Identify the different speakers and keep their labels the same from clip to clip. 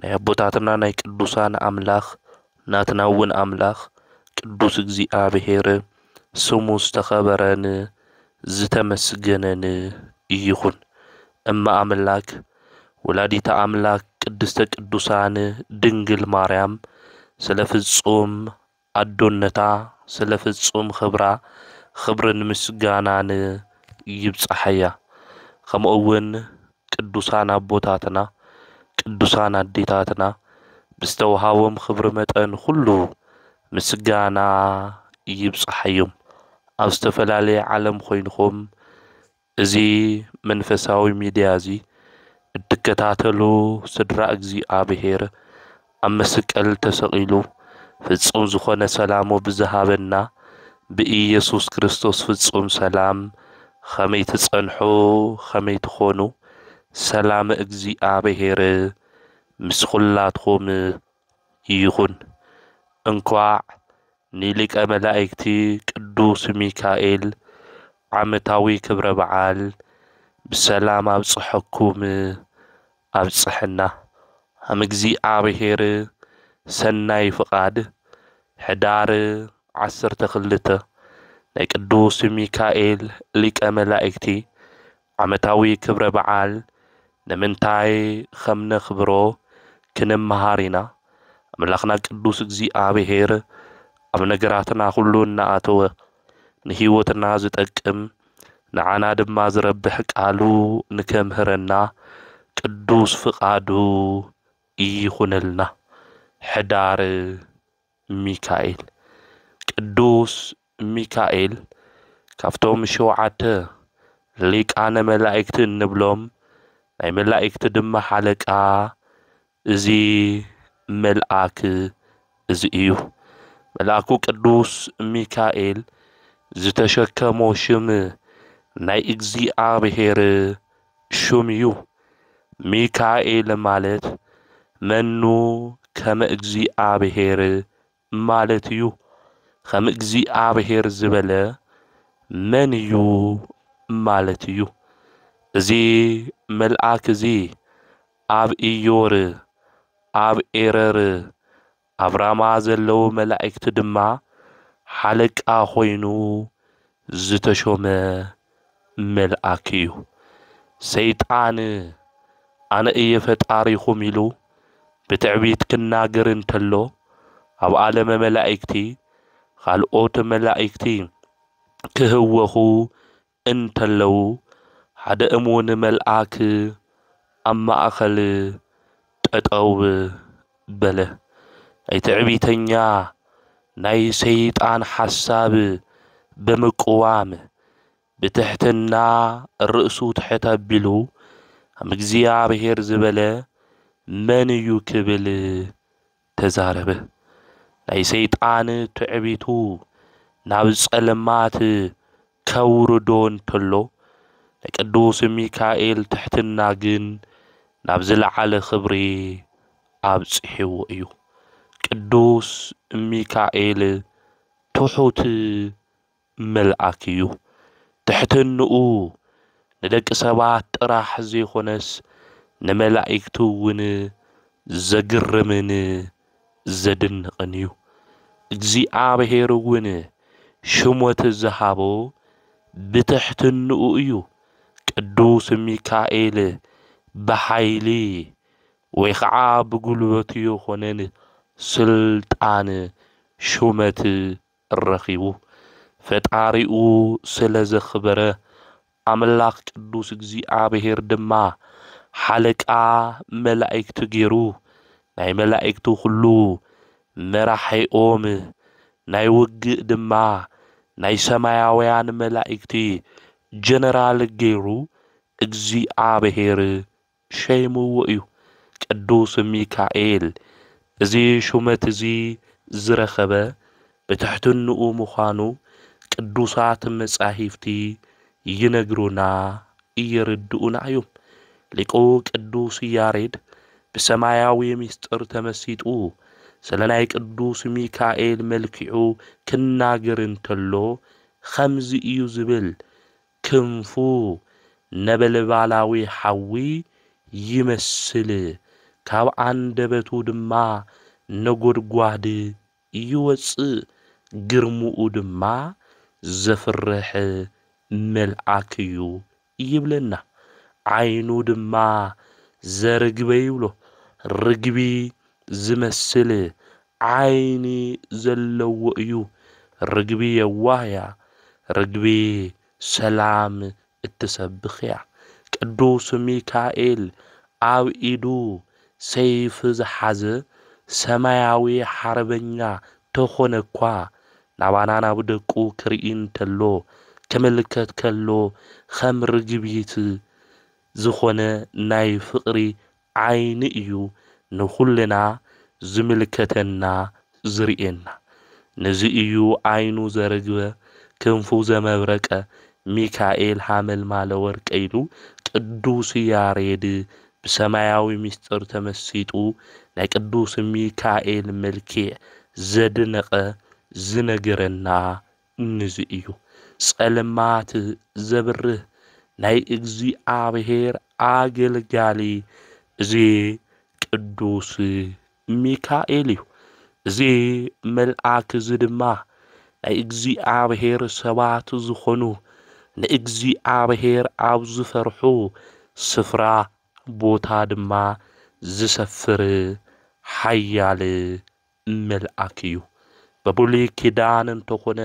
Speaker 1: ናይ ኣቦታትና ናይ ቅዱሳን ኣምላኽ ናትና እውን ኣምላኽ ቅዱስ እግዚኣብሔር ስሙ ዝተኸበረን ዝተመስገነን ይኹን። እመ ኣምላክ ወላዲተ ኣምላክ ቅድስተ ቅዱሳን ድንግል ማርያም ስለ ፍጹም ኣዶነታ ስለ ፍጹም ኽብራ ኽብርን ምስጋናን ይብጻሓያ ከምኡውን ቅዱሳን ኣቦታትና ቅዱሳን ኣዴታትና ብዝተዋሃቦም ኽብሪ መጠን ኹሉ ምስጋና ይብጻሓዮም ኣብ ዝተፈላለየ ዓለም ኾይንኹም እዚ መንፈሳዊ ሚድያ እዚ እትከታተሉ ስድራ እግዚኣብሔር ኣብ መስቀል ተሰቂሉ ፍጹም ዝኾነ ሰላሙ ብዝሃበና ብኢየሱስ ክርስቶስ ፍጹም ሰላም ኸመይ ትጸንሑ ኸመይ ትኾኑ ሰላም እግዚኣብሔር ምስ ኹላትኹም ይኹን እንኳዕ ንሊቀ መላእክቲ ቅዱስ ሚካኤል ዓመታዊ ክብረ በዓል ብሰላም ኣብፀሐኩም ኣብፀሐና። ሃም እግዚኣብሔር ሰናይ ፍቃድ ሕዳር ዓሰርተ ክልተ ናይ ቅዱስ ሚካኤል ሊቀ መላእክቲ ዓመታዊ ክብረ በዓል ንምንታይ ኸም ነኽብሮ ክንመሃር ኢና። ኣምላኽና ቅዱስ እግዚኣብሄር ኣብ ነገራትና ዅሉ እናኣተወ ንህይወትና ዝጠቅም ንዓና ድማ ዝረብሕ ቃሉ ንኬምህረና ቅዱስ ፍቓዱ ይኹነልና። ሕዳር። ሚካኤል ቅዱስ ሚካኤል ካብቶም ሸውዓተ ሊቃነ መላእክቲ እንብሎም ናይ መላእክቲ ድማ ሓለቃ እዚ መልኣክ እዚ እዩ። መልኣኩ ቅዱስ ሚካኤል ዝተሸከሞ ሽም ናይ እግዚኣብሔር ሹም እዩ። ሚካኤል ማለት መኑ ከመ እግዚኣብሔር ማለት እዩ። ከም እግዚኣብሔር ዝበለ መን እዩ ማለት እዩ። እዚ መልኣክ እዚ ኣብ ኢዮር፣ ኣብ ኤረር፣ ኣብ ራማ ዘለዉ መላእክቲ ድማ ሓለቃ ኮይኑ ዝተሾመ መልኣክ እዩ። ሰይጣን ኣነ እየ ፈጣሪኹም ኢሉ ብትዕቢት ክናገር እንተሎ ኣብ ዓለመ መላእክቲ ኻልኦት መላእክቲ ክህወኹ እንተለዉ፣ ሓደ እሙን መልኣክ ኣብ ማእከል ጠጠው በለ። ናይ ትዕቢተኛ ናይ ሰይጣን ሓሳብ ብምቅዋም፣ ብትሕትና ርእሱ ትሕት ኣቢሉ፣ ኣም እግዚኣብሔር ዝበለ መን እዩ ክብል ተዛረበ። ናይ ሰይጣን ትዕቢቱ ናብ ጸልማት ከውርዶ እንተሎ፣ ናይ ቅዱስ ሚካኤል ትሕትና ግን ናብ ዝለዓለ ክብሪ ኣብጺሕዎ እዩ። ቅዱስ ሚካኤል ትሑት መልኣክ እዩ። ትሕትንኡ ንደቂ ሰባት ጥራሕ ዘይኮነስ ንመላኢክቱ እውን ዘግርምን ዘድንቕን እዩ። እግዚኣብሔር እውን ሽሞት ዝሃቦ ብትሕትንኡ እዩ። ቅዱስ ሚካኤል ብሓይሊ ወይ ኸዓ ብጉልበቱ የኾነን ስልጣን ሹመት ረኺቡ ፈጣሪኡ ስለ ዘኽበረ፣ ኣምላኽ ቅዱስ እግዚኣብሄር ድማ ሓለቃ መላእክቲ ገይሩ፣ ናይ መላእክቲ ዅሉ መራሒኦም፣ ናይ ውግእ ድማ ናይ ሰማያውያን መላእክቲ ጀነራል ገይሩ እግዚኣብሄር ሸይምዎ እዩ። ቅዱስ ሚካኤል እዚ ሹመት እዚ ዝረኸበ ብትሕትንኡ ምዃኑ ቅዱሳት መጻሂፍቲ ይነግሩና የርድኡና እዩም። ሊቁ ቅዱስ ያሬድ ብሰማያዊ ምስጢር ተመሲጡ ስለ ናይ ቅዱስ ሚካኤል መልኪዑ ክናገር እንተሎ ኸምዚ እዩ ዝብል ክንፉ ነበልባላዊ ሓዊ ይመስል፣ ካብ ኣንደበቱ ድማ ነጐድጓድ ይወጽእ፣ ግርምኡ ድማ ዘፍርሕ መልኣክ እዩ ይብለና። ዓይኑ ድማ ዘርግበ ይብሎ፣ ርግቢ ዝመስል ዓይኒ ዘለዎ እዩ ርግቢ የዋህ እያ ርግቢ ሰላም እትሰብኽ እያ ቅዱስ ሚካኤል ኣብ ኢዱ ሰይፊ ዝሓዘ ሰማያዊ ሓርበኛ ተኾነ እኳ ናባና ናብ ደቁ ክርኢ እንተሎ ክምልከት ከሎ ኸም ርግቢት ዝኾነ ናይ ፍቕሪ ዓይኒ እዩ ንኹልና ዝምልከተና ዝርእየና ንዚ እዩ ዓይኑ ዘርግበ ክንፉ ዘመብረቀ ሚካኤል ሃመልማለ ወርቀ ኢሉ ቅዱስ ያሬድ ብሰማያዊ ምስጢር ተመሲጡ ናይ ቅዱስ ሚካኤል መልኪዕ ዘድነቀ ዝነገረና ንዙይ እዩ ጸልማት ዘብርህ ናይ እግዚኣብሔር ኣገልጋሊ እዚ ቅዱስ ሚካኤል እዩ። እዚ መልኣክ እዚ ድማ ናይ እግዚኣብሔር ሰባት ዝኾኑ ንእግዚኣብሔር ኣብ ዝፈርሑ ስፍራ ቦታ ድማ ዝሰፍር ሓያል መልኣክ እዩ ብብሉይ ኪዳን እንተኮነ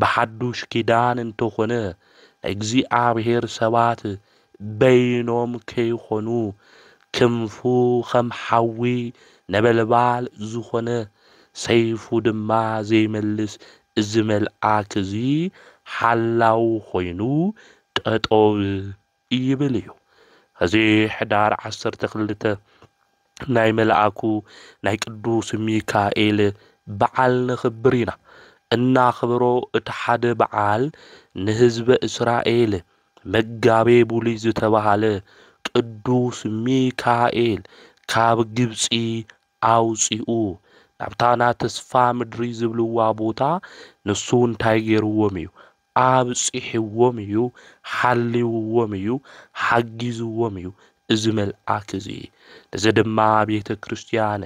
Speaker 1: ብሓዱሽ ኪዳን እንተኮነ እግዚኣብሔር ሰባት በይኖም ከይኮኑ ክንፉ ከም ሓዊ ነበልባል ዝኮነ ሰይፉ ድማ ዘይመልስ እዚ መልኣክ እዚ ሓላው ኮይኑ ጠጦው ይብል እዩ። እዚ ሕዳር ዓሰርተ ክልተ ናይ መልኣኩ ናይ ቅዱስ ሚካኤል በዓል ነኽብር ኢና። እናኽብሮ እቲ ሓደ በዓል ንህዝበ እስራኤል መጋቤ ቡሉይ ዝተባህለ ቅዱስ ሚካኤል ካብ ግብጺ ኣውጺኡ ናብታ ናተስፋ ምድሪ ዝብልዋ ቦታ ንሱ እንታይ ገይርዎም እዩ ኣብጺሕዎም እዩ፣ ሓልይዎም እዩ፣ ሓጊዝዎም እዩ እዚ መልኣክ እዚ። እዚ ድማ ቤተ ክርስቲያን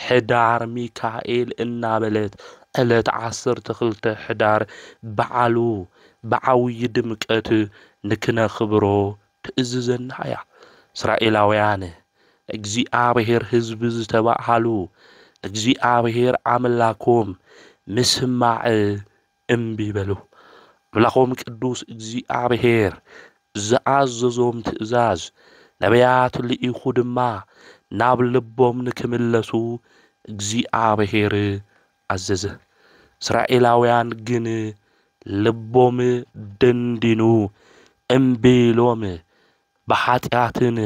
Speaker 1: ሕዳር ሚካኤል እናበለት ዕለት ዓሰርተ ክልተ ሕዳር በዓሉ ብዓውዪ ድምቀት ንክነኽብሮ ትእዝዘና እያ። እስራኤላውያን እግዚኣብሔር ሕዝቢ ዝተባሃሉ ንእግዚኣብሔር ኣምላኮም ምስማዕ እምቢ በሉ። ኣምላኾም ቅዱስ እግዚኣብሔር ዝኣዘዞም ትእዛዝ ነቢያት ልኢኹ ድማ ናብ ልቦም ንክምለሱ እግዚኣብሔር ኣዘዘ። እስራኤላውያን ግን ልቦም ደንዲኑ እምቢ ኢሎም ብኃጢኣትን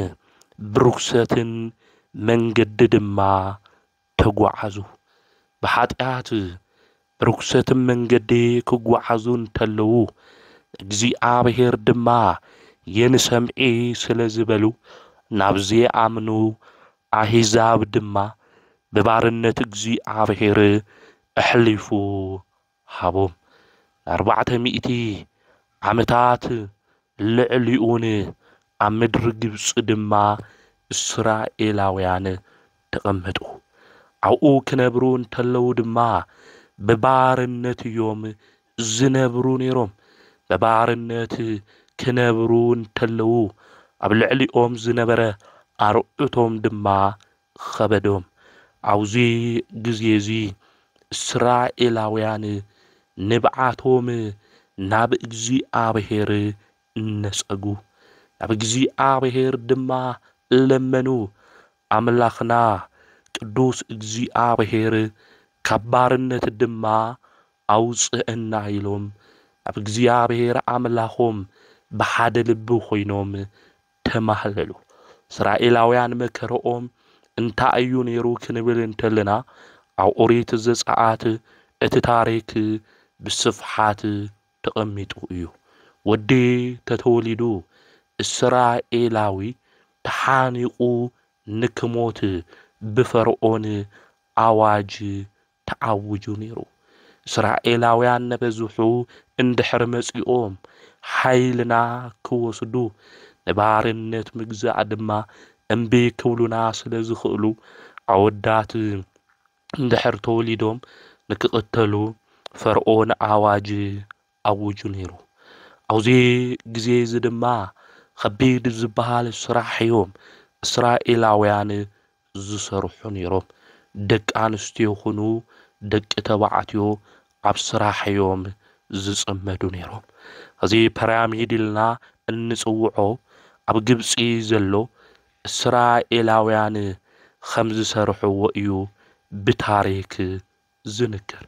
Speaker 1: ብርኩሰትን መንገዲ ድማ ተጓዓዙ። ብኃጢኣት ብርኵሰትም መንገዲ ኪጓዓዙ እንተለዉ፣ እግዚኣብሔር ድማ የንሰምዔ ስለ ዝበሉ፣ ናብ ዘይኣምኑ ኣሕዛብ ድማ ብባርነት እግዚኣብሔር ኣኅሊፉ ሃቦም ኣርባዕተ ሚእቲ ዓመታት ልዕሊኡን ኣብ ምድሪ ግብጺ ድማ እስራኤላውያን ተቐመጡ። ኣብኡ ክነብሩ እንተለዉ ድማ ብባርነት እዮም ዝነብሩ ነይሮም። ብባርነት ክነብሩ እንተለዉ ኣብ ልዕሊኦም ዝነበረ ኣርዑቶም ድማ ኸበዶም። ኣብዚ ግዜ እዚ እስራኤላውያን ንብዓቶም ናብ እግዚኣብሄር ነጸጉ፣ ናብ እግዚኣብሄር ድማ ለመኑ፣ ኣምላኽና ቅዱስ እግዚኣብሄር ካብ ባርነት ድማ ኣውጽኣና ኢሎም ናብ እግዚኣብሄር ኣምላኾም ብሓደ ልቢ ኾይኖም ተማህለሉ። እስራኤላውያን መከረኦም እንታይ እዩ ነይሩ ክንብል እንተለና ኣብ ኦሪት ዘጸኣት እቲ ታሪክ ብስፍሓት ተቐሚጡ እዩ። ወዲ ተተወሊዱ እስራኤላዊ ተሓኒቑ ንክሞት ብፈርኦን ኣዋጅ ተኣዊጁ ነይሩ። እስራኤላውያን ነበዝሑ እንድሕር መጺኦም ሓይልና ክወስዱ፣ ንባርነት ምግዛእ ድማ እምቢ ክብሉና ስለ ዝኽእሉ፣ ኣወዳት እንድሕር ተወሊዶም ንክቕተሉ ፈርኦን ኣዋጅ ኣዊጁ ነይሩ። ኣብዚ ግዜ እዚ ድማ ኸቢድ ዝበሃል ስራሕ እዮም እስራኤላውያን ዝሰርሑ ነይሮም። ደቂ ኣንስትዮ ይኹኑ ደቂ ተባዕትዮ ኣብ ስራሕ እዮም ዝጽመዱ ነይሮም። እዚ ፐራሚድ ኢልና እንጽውዖ ኣብ ግብጺ ዘሎ እስራኤላውያን ኸም ዝሰርሕዎ እዩ ብታሪክ ዝንገር።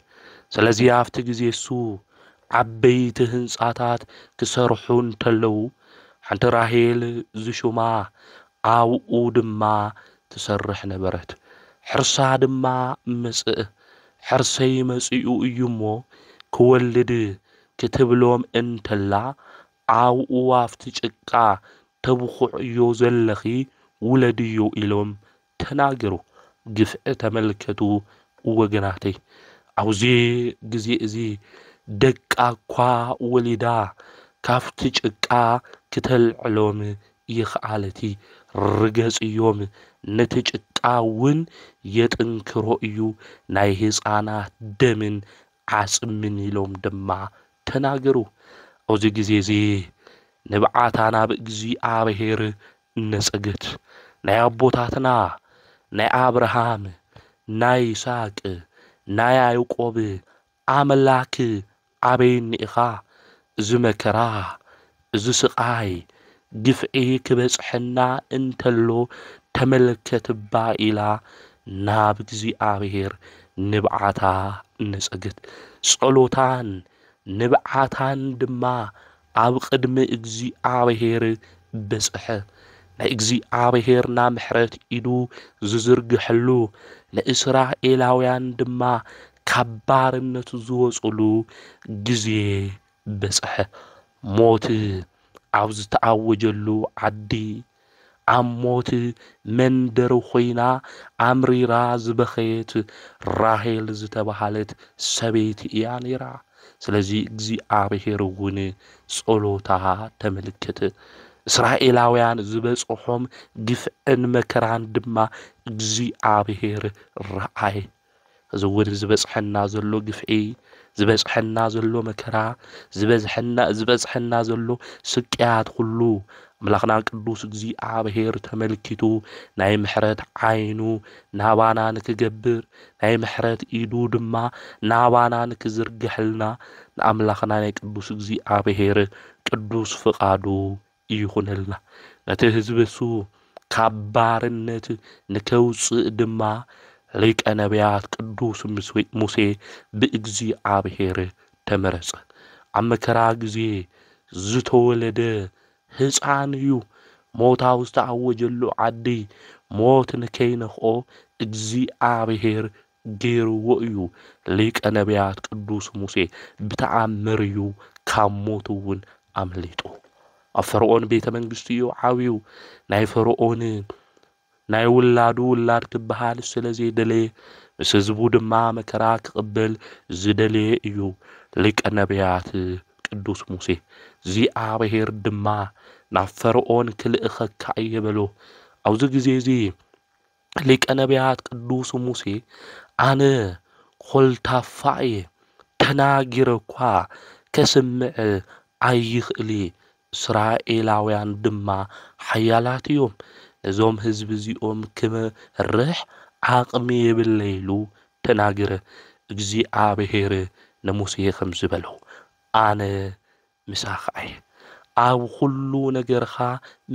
Speaker 1: ስለዚ ኣብቲ ግዜ እሱ ዓበይቲ ህንጻታት ክሰርሑ እንተለዉ ሓንቲ ራሄል ዝሹማ ኣብኡ ድማ ትሰርሕ ነበረት። ሕርሳ ድማ መጽእ። ሕርሰይ መጺኡ እዩ እሞ ክወልድ ክትብሎም እንተላ ኣብኡ ኣብቲ ጭቃ ተብኹዕዮ ዘለኺ ውለድዮ ኢሎም ተናገሩ ግፍዒ ተመልከቱ ወገናተይ ኣብዚ ግዜ እዚ ደቃ እኳ ወሊዳ ካብቲ ጭቃ ክተልዕሎም ይክኣለቲ ርገጽዮም ነቲ ጭቃ ውን የጥንክሮ እዩ ናይ ህጻናት ደምን ዓጽምን ኢሎም ድማ ተናገሩ ኣብዚ ግዜ እዚ ንብዓታ ናብ እግዚኣብሔር ነጸግት ናይ ኣቦታትና ናይ ኣብርሃም ናይ ይስሃቅ ናይ ያእቆብ ኣምላክ ኣበይ እኒኢካ እዚ መከራ እዚ ስቃይ ግፍዒ ክበጽሐና እንተሎ ተመልከትባ ኢላ ናብ እግዚኣብሔር ንብዓታ ነጸግት ጸሎታን ንብዓታን ድማ ኣብ ቕድሚ እግዚኣብሄር በጽሐ። ናይ እግዚኣብሄርና ምሕረት ኢዱ ዝዝርግሐሉ፣ ንእስራኤላውያን ድማ ካብ ባርነት ዝወጹሉ ግዜ በጽሐ። ሞት ኣብ ዝተኣወጀሉ ዓዲ ኣብ ሞት መንደር ኾይና ኣምሪራ ዝበኸየት ራሄል ዝተባህለት ሰበይቲ እያ ነይራ። ስለዚ እግዚኣብሔር እውን ጸሎታ ተመልከተ። እስራኤላውያን ዝበጽሖም ግፍዕን መከራን ድማ እግዚኣብሔር ረኣየ። እዚ እውን ዝበፅሐና ዘሎ ግፍዒ፣ ዝበፅሐና ዘሎ መከራ፣ ዝበዝሐና ዝበፅሐና ዘሎ ስቅያት ኩሉ ኣምላኽና ቅዱስ እግዚኣብሔር ተመልኪቱ ናይ ምሕረት ዓይኑ ናባና ንክገብር ናይ ምሕረት ኢዱ ድማ ናባና ንክዝርግሐልና ንኣምላኽና ናይ ቅዱስ እግዚኣብሔር ቅዱስ ፍቓዱ ይኹነልና። ነቲ ህዝቢ እሱ ካብ ባርነት ንኬውጽእ ድማ፣ ሊቀ ነብያት ቅዱስ ሙሴ ብእግዚኣብሔር ተመረጸ። ኣብ መከራ ግዜ ዝተወለደ ህጻን እዩ። ሞት ኣብ ዝተኣወጀሉ ዓዲ፣ ሞት ንኬይነኽኦ እግዚኣብሔር ገይርዎ እዩ። ሊቀ ነብያት ቅዱስ ሙሴ ብተኣምር እዩ ካብ ሞት እውን ኣምሊጡ። ኣብ ፈርኦን ቤተ መንግስቲ እዩ ዓብዩ። ናይ ፈርኦን ናይ ውላዱ ውላድ ክበሃል ስለ ዘይደለየ ምስ ህዝቡ ድማ መከራ ክቕበል ዝደለየ እዩ። ሊቀ ነብያት ቅዱስ ሙሴ እግዚኣብሔር ድማ ናብ ፈርኦን ክልእኸካ እየ በሎ። ኣብዚ ግዜ እዚ ሊቀ ነቢያት ቅዱስ ሙሴ ኣነ ኾልታፋ እየ፣ ተናጊረ እኳ ከስምዕ ኣይኽእል እየ፣ እስራኤላውያን ድማ ሓያላት እዮም፣ ነዞም ህዝቢ እዚኦም ክመርሕ ዓቕሚ የብለይ ኢሉ ተናገረ። እግዚኣብሔር ንሙሴ ኸምዚ በሎ፣ ኣነ ምሳኻ እየ። ኣብ ዅሉ ነገርኻ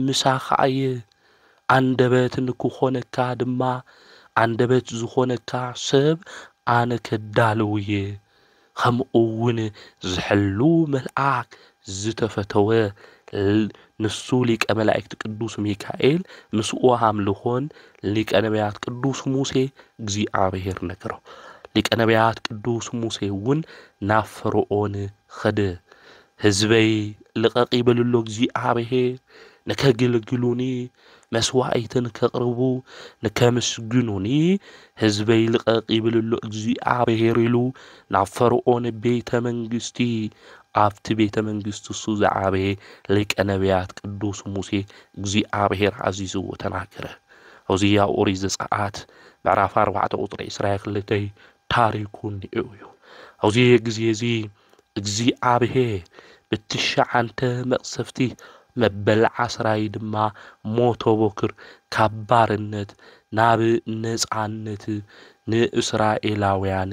Speaker 1: ምሳኻ እየ። ኣንደበት ንኪዀነካ ድማ፣ ኣንደበት ዚዀነካ ሰብ ኣነ ከዳልው እየ፣ ኸምኡውን ዚሕሉ መልኣክ ዝተፈተወ፣ ንሱ ሊቀ መላእክት ቅዱስ ሚካኤል፣ ምስኡ ኣምልኾን፣ ሊቀ ነብያት ቅዱስ ሙሴ እግዚኣብሄር ነገሮ። ሊቀ ነብያት ቅዱስ ሙሴ እውን ናብ ፈርኦን ኽድ ህዝበይ ልቐቕ ይበልሉ እግዚኣብሄር ንከግልግሉኒ መስዋኢት ንከቕርቡ ንከምስግኑኒ ህዝበይ ልቐቕ ይብልሉ እግዚኣብሄር ኢሉ ናብ ፈርኦን ቤተ መንግስቲ ኣብቲ ቤተ መንግስቲ እሱ ዝዓበየ ሊቀ ነቢያት ቅዱስ ሙሴ እግዚኣብሄር ኣዚዝዎ ተናገረ ኦዚያ ኦሪት ዘጸኣት ምዕራፍ ኣርባዕተ ቁጽሪ ዕስራ ክልተ ታሪኩ እንዲኡ እዩ። ኣብዚ ግዜ እዚ እግዚኣብሄ ብትሽዓንተ መቅሰፍቲ መበል ዓስራይ ድማ ሞቶ ቦክር ካብ ባርነት ናብ ነጻነት ንእስራኤላውያን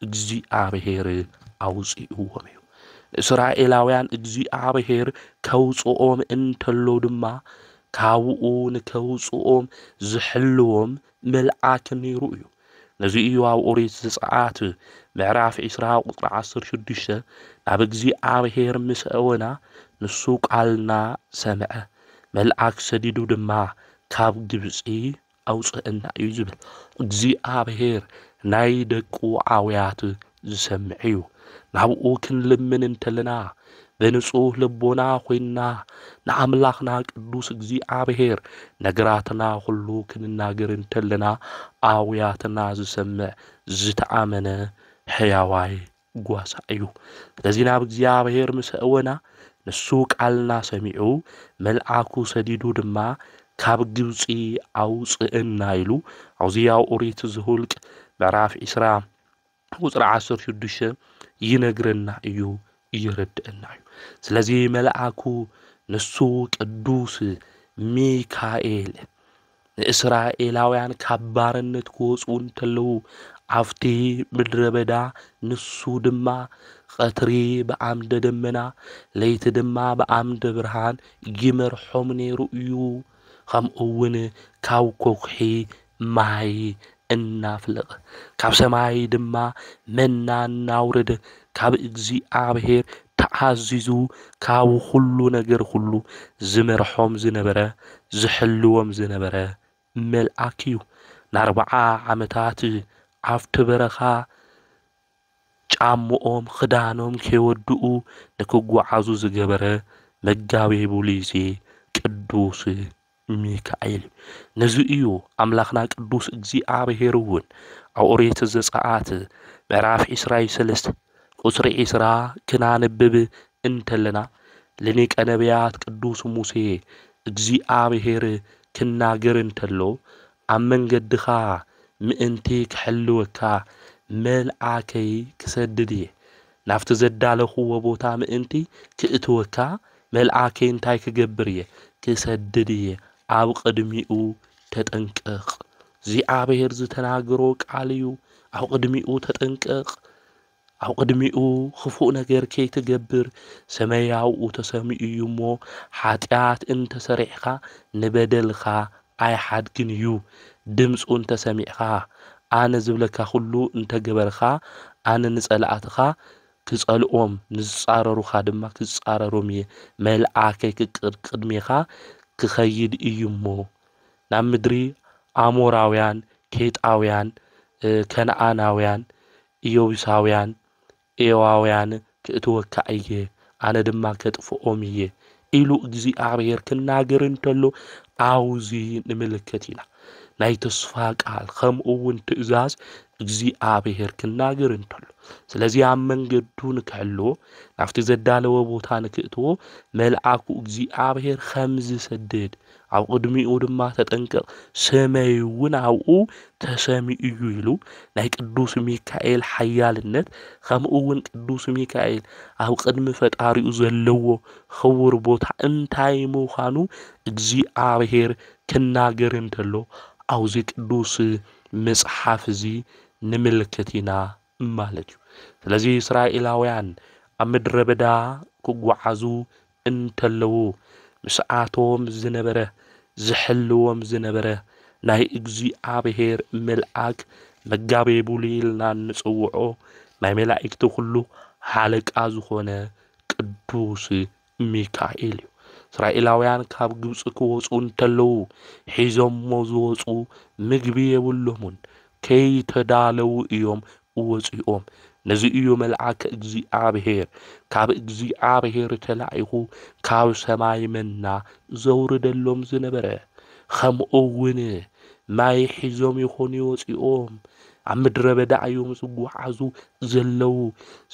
Speaker 1: እግዚኣብሄር ኣውጺእዎም እዩ። ንእስራኤላውያን እግዚኣብሄር ከውጽኦም እንተሎ ድማ ካብኡ ንከውጽኦም ዝሕልዎም መልኣክ ነይሩ እዩ። ነዚ እዩ ኣብ ኦሪት ዘጸኣት ምዕራፍ ዒስራ ቁጽሪ ዓሰርተ ሽዱሽተ ናብ እግዚኣብሔር ምስ እወና ንሱ ቃልና ሰምዐ መልኣክ ሰዲዱ ድማ ካብ ግብጺ ኣውጽእና እዩ ዝብል። እግዚኣብሔር ናይ ደቁ ኣውያት ዝሰምዕ'ዩ። ናብኡ ክንልምን እንተለና ብንጹህ ልቦና ኮይንና ንኣምላኽና ቅዱስ እግዚኣብሔር ነገራትና ኩሉ ክንናገር እንተለና ኣውያትና ዝሰምዕ ዝተኣመነ ሕያዋይ ጓሳ'ዩ። ስለዚ ናብ እግዚኣብሔር ምስ ኣእወና ንሱ ቃልና ሰሚዑ መልኣኩ ሰዲዱ ድማ ካብ ግብጺ ኣውጽእና ኢሉ ዖዝያ ኦሪት ዝሁልቅ ምዕራፍ ዒስራ ቁፅሪ ዓሰርተ ሽዱሽተ ይነግረና እዩ እየረድአና እዩ ስለዚ መልኣኩ ንሱ ቅዱስ ሚካኤል ንእስራኤላውያን ካብ ባርነት ክወፁ እንተለዉ ኣብቲ ምድረ በዳ ንሱ ድማ ቐትሪ ብኣምደ ደመና ለይቲ ድማ ብኣምደ ብርሃን ይመርሖም ነይሩ እዩ ከምኡ እውን ካብ ኮኩሒ ማይ እናፍልቕ፣ ካብ ሰማይ ድማ መና እናውርድ፣ ካብ እግዚኣብሔር ተኣዚዙ ካብ ኹሉ ነገር ኹሉ ዝመርሖም ዝነበረ፣ ዝሕልዎም ዝነበረ መልኣክ እዩ። ንኣርብዓ ዓመታት ኣብቲ በረኻ ጫምኦም ኽዳኖም ከይወድኡ ንክጓዓዙ ዝገበረ መጋቤ ብሉይ'ዚ ቅዱስ ሚካኤል ነዚ እዩ ኣምላኽና ቅዱስ እግዚኣብሔር እውን ኣብ ኦሪት ዘጸኣት ምዕራፍ ዒስራይ ሰለስተ ቁጽሪ ዒስራ ክናንብብ እንተለና ልኒቀ ነቢያት ቅዱስ ሙሴ እግዚኣብሔር ክናገር እንተሎ ኣብ መንገድኻ ምእንቲ ክሕልወካ መልኣከይ ክሰድድ እየ ናብቲ ዘዳለኹዎ ቦታ ምእንቲ ኪእትወካ፣ መልኣከይ እንታይ ክገብር እየ? ክሰድድ እየ፣ ኣብ ቕድሚኡ ተጠንቀቕ። እግዚኣብሄር ዝተናገሮ ቃል እዩ፣ ኣብ ቕድሚኡ ተጠንቀቕ፣ ኣብ ቕድሚኡ ኽፉእ ነገር ከይትገብር። ሰመይ ኣብኡ ተሰሚኡ እዩ እሞ፣ ሓጢኣት እንተ ሰሪሕካ፣ ንበደልካ ኣይሓድግን እዩ ድምጹ እንተ ሰሚዕካ ኣነ ዝብለካ ኩሉ እንተ ገበርካ ኣነ ንጸላእትኻ ክጸልኦም ንዝጻረሩኻ ድማ ክጻረሮም እየ መልኣከይ ክቅር ቅድሜኻ ክኸይድ እዩ እሞ ናብ ምድሪ ኣሞራውያን ኬጣውያን ከነኣናውያን እዮቡሳውያን ኤዋውያን ክእትወካ እየ፣ ኣነ ድማ ከጥፍኦም እየ ኢሉ እግዚኣብሄር ክናገር እንተሎ ኣብ'ዚ ንምልከት ኢና። ናይ ተስፋ ቃል ከምኡ'ውን ትእዛዝ እግዚኣብሄር ክናገር እንተሎ። ስለዚ ኣብ መንገዱ ንክሕልዎ ናብቲ ዘዳለወ ቦታ ንክእትዎ መልኣኩ እግዚኣብሄር ከምዝሰድድ ኣብ ቕድሚኡ ድማ ተጠንቀቕ፣ ስመይውን ኣብኡ ተሰሚኡ እዩ ኢሉ። ናይ ቅዱስ ሚካኤል ሓያልነት ኸምኡውን ቅዱስ ሚካኤል ኣብ ቕድሚ ፈጣሪኡ ዘለዎ ኽቡር ቦታ እንታይ ምዃኑ እግዚኣብሄር ክናገር እንተሎ ኣብዚ ቅዱስ መጽሓፍ እዚ ንምልክት ኢና ማለት እዩ። ስለዚ እስራኤላውያን ኣብ ምድረ በዳ ክጐዓዙ እንተለዉ ምስኣቶም ዝነበረ ዝሕልዎም ዝነበረ ናይ እግዚኣብሔር መልኣክ መጋቤ ብሉይ ኢልና እንጽውዖ ናይ መላእክቲ ኩሉ ሓለቃ ዝኾነ ቅዱስ ሚካኤል እዩ። እስራኤላውያን ካብ ግብፂ ክወፁ እንተለዉ ሒዞሞ ዝወፁ ምግቢ የብሎሙን ከይተዳለዉ እዮም ወጺኦም ነዚ እዩ መልኣከ እግዚኣብሔር ካብ እግዚኣብሔር ተላኢኹ ካብ ሰማይ መና ዘውርደሎም ዝነበረ ከምኡ እውን ማይ ሒዞም ይኾኑ ወፂኦም ኣብ ምድረ በዳ እዮም ዝጓዓዙ ዘለዉ።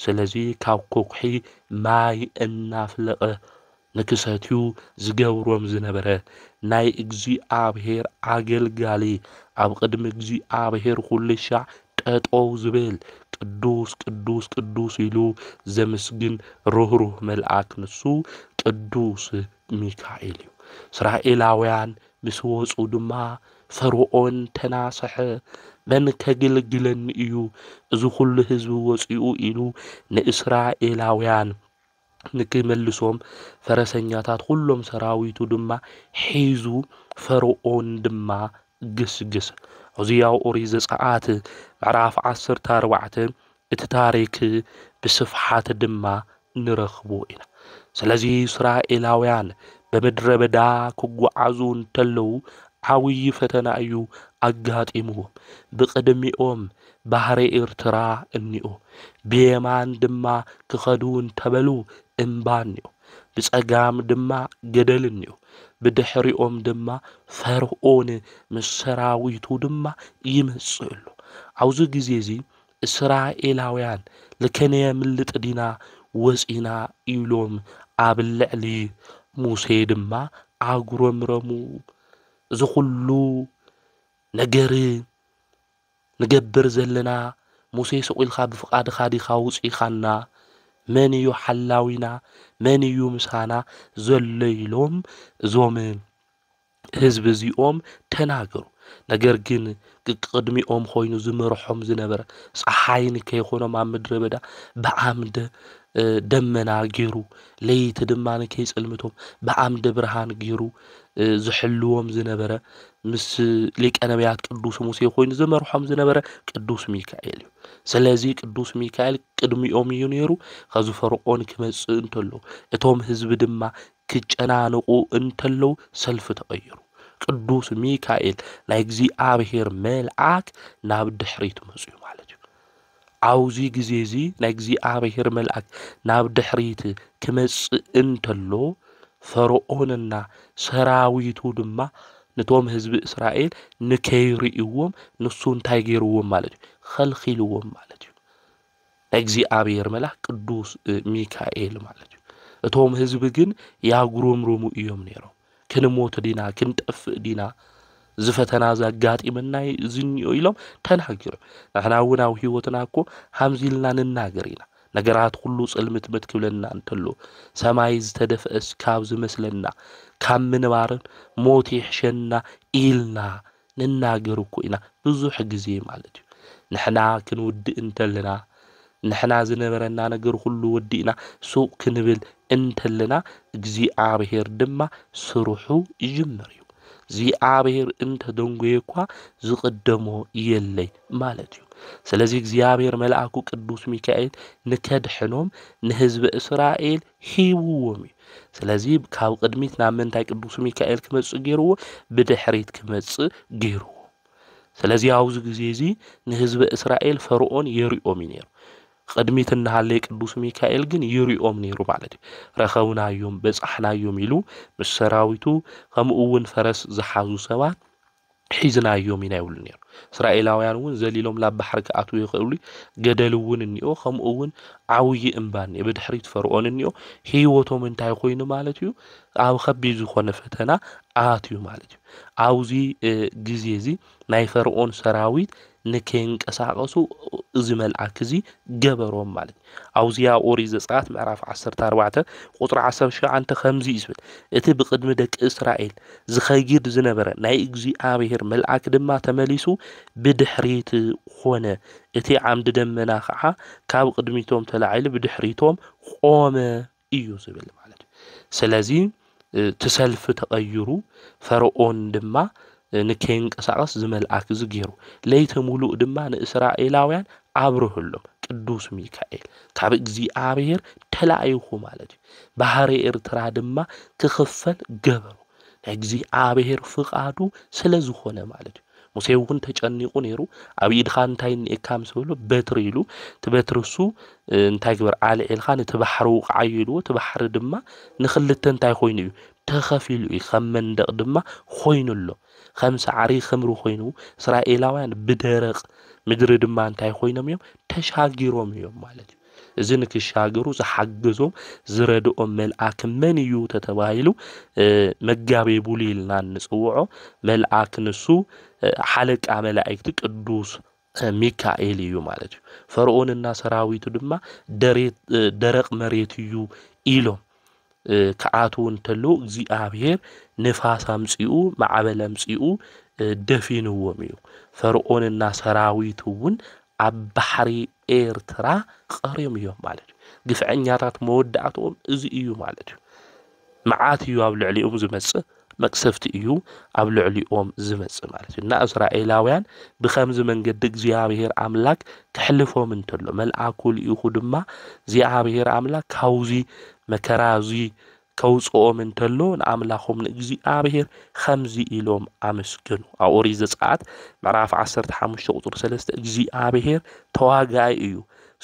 Speaker 1: ስለዚ ካብ ኮኩሒ ማይ እናፍለቐ ንክሰትዩ ዝገብሮም ዝነበረ ናይ እግዚኣብሔር ኣገልጋሊ ኣብ ቅድሚ እግዚኣብሔር ኹልሻዕ ጠጠው ዝብል ቅዱስ ቅዱስ ቅዱስ ኢሉ ዘምስግን ርህሩህ መልኣክ ንሱ ቅዱስ ሚካኤል እዩ። እስራኤላውያን ምስ ወፁ ድማ ፈርዖን ተናሰሐ መን ከግልግለኒ እዩ እዚ ኹሉ ህዝቢ ወፂኡ ኢሉ ንእስራኤላውያን ንኪምልሶም፣ ፈረሰኛታት ዅሎም ሰራዊቱ ድማ ሒዙ፣ ፈርኦን ድማ ገስገሰ። ዖዝያ ኦሪት ዘጽኣት ምዕራፍ ዓሰርተ ኣርባዕተ እቲ ታሪክ ብስፍሓት ድማ ንረኽቦ ኢና። ስለዚ እስራኤላውያን ብምድረ በዳ ክጓዓዙ እንተለዉ ዓብዪ ፈተና እዩ ኣጋጢምዎም። ብቕድሚኦም ባሕሪ ኤርትራ እኒኦ፣ ብየማን ድማ ክኸዱ እንተበሉ እምባ እኒኦ፣ ብጸጋም ድማ ገደል እኒኦ፣ ብድሕሪኦም ድማ ፈርኦን ምስ ሰራዊቱ ድማ ይመጽእ ኣሎ። ኣብዚ ግዜ እዚ እስራኤላውያን ልከነየምልጥ ዲና ወጺእና ኢሎም ኣብ ልዕሊ ሙሴ ድማ ኣጉረምረሙ። እዚ ኹሉ ነገር ንገብር ዘለና ሙሴ ሱቕ ኢልካ ብፍቓድኻ ዲኻ ኣውጺእኻና መን እዩ ሓላዊና መን እዩ ምሳና ዘሎ ኢሎም እዞም ህዝቢ እዚኦም ተናገሩ ነገር ግን ቅቅድሚኦም ኾይኑ ዝመርሖም ዝነበረ ፀሓይ ንከይኾኖም ኣብ ምድረ በዳ ብዓምደ ደመና ገይሩ ለይቲ ድማ ከይጽልምቶም ብዓምደ ብርሃን ገይሩ ዝሕልዎም ዝነበረ ምስ ሊቀ ነቢያት ቅዱስ ሙሴ ኮይኑ ዝመርሖም ዝነበረ ቅዱስ ሚካኤል እዩ። ስለዚ ቅዱስ ሚካኤል ቅድሚኦም እዩ ነይሩ። ከዚ ፈርዖን ክመጽእ እንተሎ እቶም ህዝቢ ድማ ክጨናንቑ እንተለው ሰልፊ ተቐይሩ ቅዱስ ሚካኤል ናይ እግዚኣብሔር መልኣክ ናብ ድሕሪት መጽኡ ማለት እዩ። ኣብዚ ግዜ እዚ ናይ እግዚኣብሔር መልኣክ ናብ ድሕሪት ክመጽእ እንተሎ ፈርዖንና ሰራዊቱ ድማ ንቶም ህዝቢ እስራኤል ንከይርእይዎም ንሱ እንታይ ገይርዎም ማለት እዩ ኸልኺልዎም ማለት እዩ ናይ እግዚኣብሔር መልኣክ ቅዱስ ሚካኤል ማለት እዩ እቶም ህዝቢ ግን ያጉረምርሙ እዮም ነይሮም ክንሞት ዲና ክንጠፍእ ዲና እዚ ፈተና እዚ ኣጋጢመና እዩ እዚ እኒኦ ኢሎም ተናገሩ ንሕና እውን ኣብ ህይወትና እኮ ሃምዚ ኢልና ንናገር ኢና ነገራት ኩሉ ጽልምትምት ክብለና እንተሎ ሰማይ ዝተደፍአስ ካብ ዝመስለና ካብ ምንባርን ሞት ይሕሸና ኢልና ንናገር እኮ ኢና ብዙሕ ግዜ ማለት እዩ ንሕና ክንውድእ እንተለና ንሕና ዝነበረና ነገር ኩሉ ወዲእና ሱቅ ክንብል እንተለና እግዚኣብሔር ድማ ስርሑ ይጅምር እዩ እግዚኣብሔር እንተ ደንጎየ እኳ ዝቅደሞ የለይ ማለት እዩ ስለዚ እግዚኣብሔር መልኣኩ ቅዱስ ሚካኤል ንከድሕኖም ንህዝበ እስራኤል ሂብዎም እዩ። ስለዚ ካብ ቅድሚት ናብ ምንታይ ቅዱስ ሚካኤል ክመጽእ ገይርዎ? ብድሕሪት ክመጽእ ገይርዎ። ስለዚ ኣብዚ ግዜ እዚ ንህዝበ እስራኤል ፈርኦን የሪኦም እዩ ነይሩ። ቅድሚት እናሃለየ ቅዱስ ሚካኤል ግን ይሪኦም ነይሩ ማለት እዩ። ረኸብናዮም በጻሕናዮም ኢሉ ምስ ሰራዊቱ ከምኡ እውን ፈረስ ዝሓዙ ሰባት ሒዝናዮም ኢና ይብሉ ነይሩ። እስራኤላውያን እውን ዘሊሎም ናብ ባሕሪ ክኣትዉ ይኽእሉ እዩ፣ ገደል እውን እኒኦ፣ ከምኡ እውን ዓብዪ እምባ እኒኦ፣ ብድሕሪት ፈርኦን እኒኦ፣ ህይወቶም እንታይ ኮይኑ ማለት እዩ ኣብ ከቢድ ዝኾነ ፈተና ኣትዩ ማለት እዩ። ኣብዚ ግዜ እዚ ናይ ፈርኦን ሰራዊት ንከይንቀሳቐሱ እዚ መልኣክ እዚ ገበሮም ማለት እዩ። ኣብዚ ኣብ ኦሪት ዘጸኣት ምዕራፍ ዓሰርተ ኣርባዕተ ቁጽሪ ዓሰርተ ሸውዓተ ከምዚ እዩ ዝብል፣ እቲ ብቕድሚ ደቂ እስራኤል ዝኸይድ ዝነበረ ናይ እግዚኣብሄር መልኣክ ድማ ተመሊሱ ብድሕሪት ዀነ፣ እቲ ዓምዲ ደመና ኸዓ ካብ ቕድሚቶም ተላዒሉ ብድሕሪቶም ቖመ። እዩ ዝብል ማለት እዩ ስለዚ እቲ ሰልፊ ተቐይሩ ፈርኦን ድማ ንከይንቀሳቐስ ዝመልኣክ እዚ ገይሩ ለይቲ ሙሉእ ድማ ንእስራኤላውያን ኣብርህሎም ቅዱስ ሚካኤል ካብ እግዚኣብሔር ተላኢኹ ማለት እዩ ባህሪ ኤርትራ ድማ ክኽፈል ገበሩ ናይ እግዚኣብሔር ፍቓዱ ስለ ዝኾነ ማለት እዩ ሙሴ'ውን ተጨኒቑ ነይሩ፣ ኣብ ኢድኻ እንታይ እኒኤካ ምስ በሎ፣ በትሪ ኢሉ፣ እቲ በትሪ እሱ እንታይ ግበር፣ ኣልዒልካ ነቲ ባሕሪ ውቕዓዮ ኢልዎ፣ እቲ ባሕሪ ድማ ንኽልተ እንታይ ኮይኑ እዩ፣ ተኸፊሉ እዩ፣ ከም መንደቕ ድማ ኾይኑ ኣሎ፣ ከም ሳዕሪ ኽምሪ ኾይኑ፣ እስራኤላውያን ብደረቕ ምድሪ ድማ እንታይ ኾይኖም እዮም፣ ተሻጊሮም እዮም ማለት እዩ። እዚ ንክሻገሩ ዝሓገዞም ዝረድኦም መልኣክ መን እዩ ተተባሂሉ መጋቤ ቡሊ ኢልና እንፅውዖ መልኣክ ንሱ ሓለቃ መላእክቲ ቅዱስ ሚካኤል እዩ ማለት እዩ። ፈርዖንና ሰራዊቱ ድማ ደረቅ መሬት እዩ ኢሎም ክኣትዉ እንተለዉ እግዚኣብሔር ንፋስ ኣምጺኡ ማዕበል ኣምጺኡ ደፊንዎም እዩ። ፈርዖንና ሰራዊቱ እውን ኣብ ባሕሪ ኤርትራ ቐርዮም እዮም ማለት እዩ። ግፍዐኛታት መወዳእትኦም እዚ እዩ ማለት እዩ። መዓት እዩ ኣብ ልዕሊኦም ዝመጽእ። መቅሰፍቲ እዩ ኣብ ልዕሊኦም ዝመጽእ ማለት እዩ። እና እስራኤላውያን ብከምዚ መንገዲ እግዚኣብሔር ኣምላክ ክሕልፎም እንተሎ መልኣኩ ልኢኹ ድማ እግዚኣብሔር ኣምላክ ካብዚ መከራ እዚ ከውፅኦም እንተሎ ንኣምላኾም ንእግዚኣብሔር ከምዚ ኢሎም ኣመስገኑ። ኣብ ኦሪት ዘጸአት ምዕራፍ 15 ቁፅሪ 3 እግዚኣብሔር ተዋጋኢ እዩ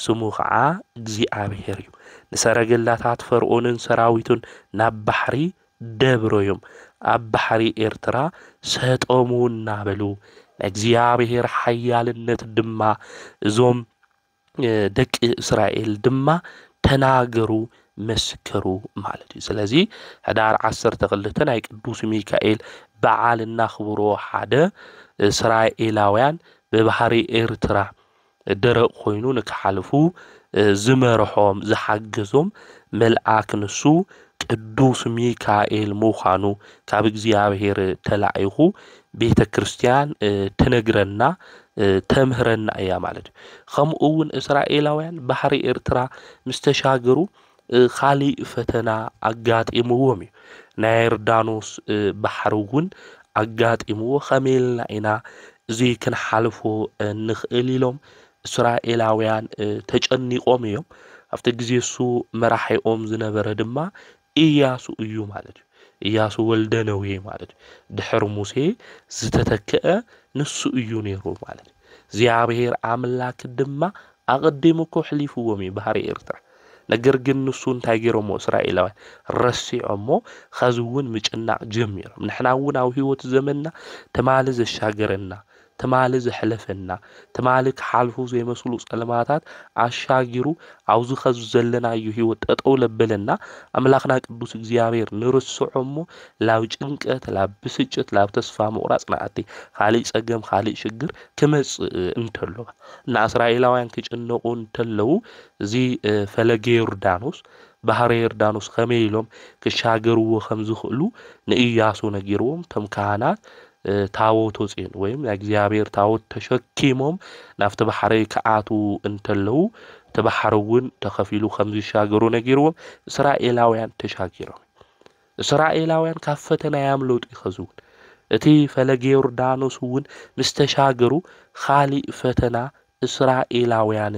Speaker 1: ስሙ ከዓ እግዚኣብሔር እዩ ንሰረገላታት ፈርኦንን ሰራዊቱን ናብ ባሕሪ ደብሮዮም ኣብ ባሕሪ ኤርትራ ሰጠሙ እናበሉ ናይ እግዚኣብሔር ሓያልነት ድማ እዞም ደቂ እስራኤል ድማ ተናገሩ መስከሩ ማለት እዩ ስለዚ ሕዳር ዓሰርተ ክልተ ናይ ቅዱስ ሚካኤል በዓል እናኽብሮ ሓደ እስራኤላውያን ብባህሪ ኤርትራ ደረቕ ኮይኑ ንክሓልፉ ዝመርሖም ዝሓገዞም መልኣክ ንሱ ቅዱስ ሚካኤል ምዃኑ ካብ እግዚኣብሔር ተላኢኹ ቤተ ክርስቲያን ትነግረና ተምህረና እያ ማለት እዩ። ከምኡ እውን እስራኤላውያን ባሕሪ ኤርትራ ምስ ተሻገሩ ኻሊእ ፈተና ኣጋጢምዎም እዩ። ናይ ዮርዳኖስ ባሕሪ እውን ኣጋጢምዎ፣ ከመይ ኢልና ኢና እዚ ክንሓልፎ እንኽእል ኢሎም እስራኤላውያን ተጨኒቖም እዮም። ኣብቲ ግዜ እሱ መራሒኦም ዝነበረ ድማ እያሱ እዩ ማለት እዩ። እያሱ ወልደ ነዌ ማለት እዩ። ድሕሪ ሙሴ ዝተተክአ ንሱ እዩ ነይሩ ማለት እዩ። እግዚኣብሔር ኣምላክ ድማ ኣቐዲሙ እኮ ኣሕሊፍዎም እዩ ባህሪ ኤርትራ። ነገር ግን ንሱ እንታይ ገይሮሞ እስራኤላውያን ረሲዖሞ ኸዚ እውን ምጭናቕ ጀሚሮም ንሕና እውን ኣብ ህይወት ዘመንና ትማሊ ዘሻገረና ትማሊ ዘሕለፈና ትማሊ ክሓልፉ ዘይመስሉ ጸልማታት ኣሻጊሩ ኣብዚ ኸዚ ዘለናዮ ህይወት ጠጠው ለበለና ኣምላኽና ቅዱስ እግዚኣብሔር ንርስዖ እሞ ላብ ጭንቀት ላብ ብስጭት ላብ ተስፋ ምቑራጽ ንኣቲ ካልእ ጸገም ካልእ ሽግር ክመጽእ እንተሎ እና እስራኤላውያን ክጭነቑ እንተለዉ እዚ ፈለገ ዮርዳኖስ፣ ባሕረ ዮርዳኖስ፣ ኸመይ ኢሎም ክሻገርዎ ኸም ዝኽእሉ ንእያሱ ነጊርዎም፣ እቶም ካህናት ታቦት ወፅዮን ወይም ናይ እግዚኣብሔር ታቦት ተሸኪሞም ናብቲ ባሕረይ ክኣትዉ እንተለዉ እቲ ባሕሪ እውን ተኸፊሉ ኸም ዝሻገሩ ነጊርዎም፣ እስራኤላውያን ተሻጊሮም እዮም። እስራኤላውያን ካብ ፈተና ያምለጡ ይኸዝውን። እቲ ፈለገ ዮርዳኖስ እውን ምስ ተሻገሩ ኻሊእ ፈተና እስራኤላውያን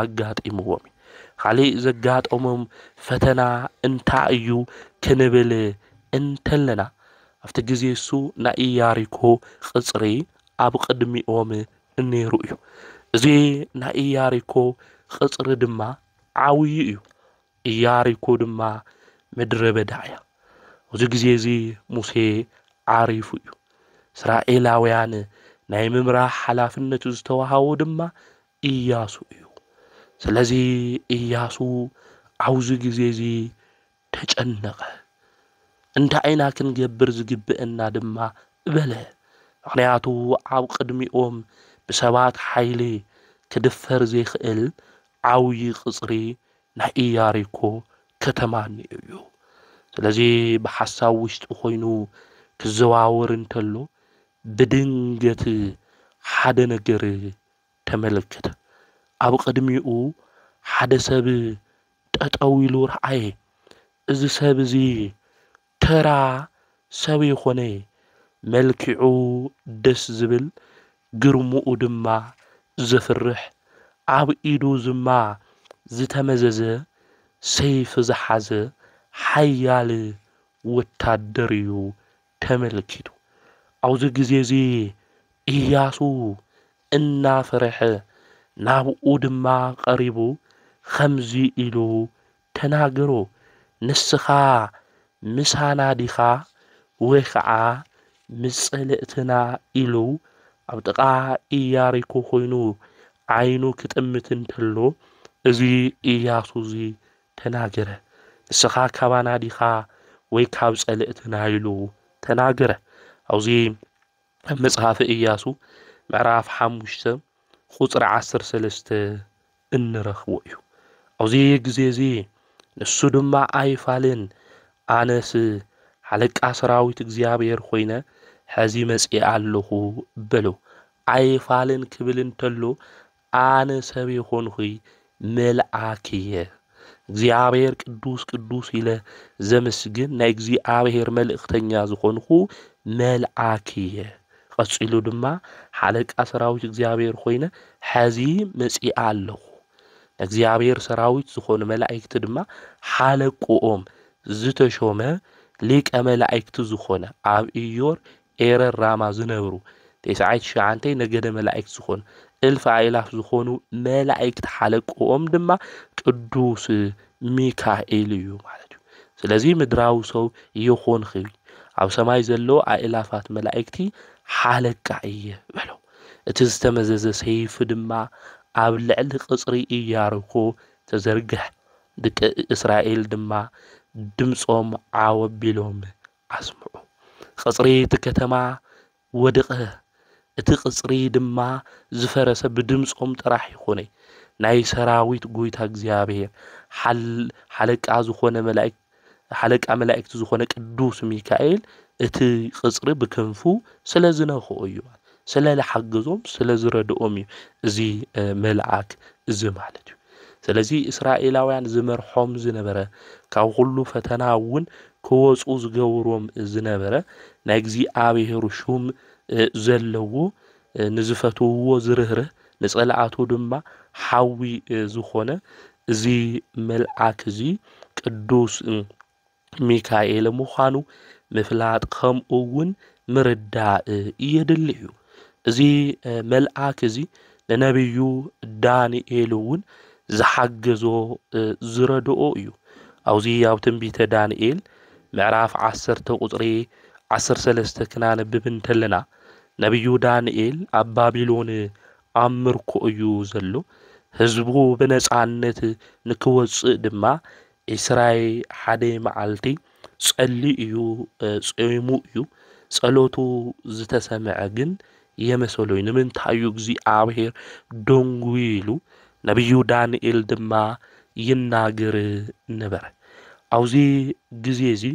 Speaker 1: ኣጋጢምዎም እዩ። ኻሊእ ዘጋጠሞም ፈተና እንታይ እዩ ክንብል እንተለና፣ ኣብቲ ግዜ እሱ ናይ ኢያሪኮ ቕጽሪ ኣብ ቕድሚኦም ነይሩ እዩ። እዚ ናይ ኢያሪኮ ቕጽሪ ድማ ዓብዩ እዩ። ኢያሪኮ ድማ ምድረ በዳ እያ። ኣብዚ ግዜ እዚ ሙሴ ዓሪፉ እዩ። እስራኤላውያን ናይ ምምራሕ ሓላፍነት ዝተዋሃቦ ድማ ኢያሱ እዩ። ስለዚ ኢያሱ ኣብዚ ግዜ እዚ ተጨነቐ። እንታይ ኢና ክንገብር ዝግብእና ድማ በለ። ምክንያቱ ኣብ ቅድሚኦም ብሰባት ሓይሊ ክድፈር ዘይክእል ዓብዪ ቅፅሪ ናይ ኢያሪኮ ከተማ ኔሩ እዩ። ስለዚ ብሓሳብ ውሽጢ ኮይኑ ክዘዋወር እንተሎ ብድንገት ሓደ ነገር ተመልከተ። ኣብ ቅድሚኡ ሓደ ሰብ ጠጠው ኢሉ ረኣየ። እዚ ሰብ እዚ ተራ ሰብ ይኹን መልኪዑ ደስ ዝብል ግርምኡ ድማ ዘፍርሕ ኣብ ኢዱ ዝማ ዝተመዘዘ ሰይፊ ዝሓዘ ሓያል ወታደር እዩ ተመልኪቱ። ኣብዚ ግዜ እዚ እያሱ እናፈርሐ ናብኡ ድማ ቀሪቡ ኸምዚ ኢሉ ተናገሩ፣ ንስኻ ምሳና ዲኻ ወይ ኸዓ ምስ ጸልእትና ኢሉ ኣብ ጥቓ ኢያሪኮ ኾይኑ ዓይኑ ክጥምት እንተሎ እዚ ኢያሱ እዚ ተናገረ፣ ንስኻ ካባና ዲኻ ወይ ካብ ጸልእትና ኢሉ ተናገረ። ኣብዚ ኣብ መጽሓፈ ኢያሱ ምዕራፍ ሓሙሽተ ቁጽሪ ዓሰርተ ሰለስተ እንረኽቦ እዩ። ኣብዚ ግዜ እዚ ንሱ ድማ ኣይፋልን፣ ኣነስ ሓለቃ ሰራዊት እግዚኣብሔር ኾይነ ሕዚ መጺኣ ኣሎኹ በሎ። ኣይፋልን ክብል እንተሎ ኣነ ሰብ የኾንኹይ መልኣክ እየ። እግዚኣብሔር ቅዱስ ቅዱስ ኢለ ዘምስግን ናይ እግዚኣብሔር መልእኽተኛ ዝኾንኹ መልኣክ እየ። ቐጺሉ ድማ፣ ሓለቃ ሰራዊት እግዚኣብሄር ዀይነ ሕዚ መጺኣ ኣለኹ፣ ንእግዚኣብሄር ሰራዊት ዝዀኑ መላእክቲ ድማ ሓለቅኦም ዝተሾመ ሊቀ መላእክቲ ዝዀነ፣ ኣብ ኢዮር፣ ኤረር፣ ራማ ዝነብሩ ቴስዓይ ትሽዓንተይ ነገደ መላእክት ዝዀኑ፣ እልፍ ኣእላፍ ዝዀኑ መላእክቲ ሓለቅኦም ድማ ቅዱስ ሚካኤል እዩ ማለት እዩ። ስለዚ ምድራዊ ሰው ይኹንኺ ኣብ ሰማይ ዘሎ ኣእላፋት መላእክቲ ሓለቃ እየ በሎ። እቲ ዝተመዘዘ ሰይፊ ድማ ኣብ ልዕሊ ቅፅሪ እያርኮ ተዘርግሐ። ድቂ እስራኤል ድማ ድምፆም ዓው ኣቢሎም ኣስምዑ። ቅፅሪ እቲ ከተማ ወድቐ፣ እቲ ቕጽሪ ድማ ዝፈረሰ ብድምጾም ጥራሕ ይኾነ፣ ናይ ሰራዊት ጎይታ እግዚኣብሔር፣ ሓለቃ ዝኾነ መላእክት፣ ሓለቃ መላእክት ዝኾነ ቅዱስ ሚካኤል እቲ ቕጽሪ ብክንፉ ስለ ዝነክኦ እዩ፣ ስለ ልሓገዞም ስለ ዝረድኦም እዩ እዚ መልኣክ እዚ ማለት እዩ። ስለዚ እስራኤላውያን ዝመርሖም ዝነበረ ካብ ኹሉ ፈተና እውን ክወፁ ዝገብሮም ዝነበረ ናይ እግዚኣብሔር ሹም ዘለዎ ንዝፈትውዎ ዝርህርህ ንፀላኣቱ ድማ ሓዊ ዝኾነ እዚ መልኣክ እዚ ቅዱስ ሚካኤል ምዃኑ ምፍላጥ ከምኡውን ምርዳእ የድሊ እዩ። እዚ መልኣክ እዚ ንነብዩ ዳንኤል እውን ዝሓገዞ ዝረድኦ እዩ። ኣብዚ ኣብ ትንቢተ ዳንኤል ምዕራፍ ዓሰርተ ቁፅሪ ዓሰርተ ሰለስተ ክናነብብ እንተለና ነብዩ ዳንኤል ኣብ ባቢሎን ኣብ ምርኮ እዩ ዘሎ ህዝቡ ብነፃነት ንክወፅእ ድማ ኢስራይ ሓደ መዓልቲ ጸልዩ እዩ ጾይሙ እዩ ጸሎቱ ዝተሰምዐ ግን የመሰሎይ ንምንታይ እዩ እግዚኣብሔር ደንጉዩ ኢሉ ነቢዩ ዳንኤል ድማ ይናገር ነበረ ኣብዚ ግዜ እዚ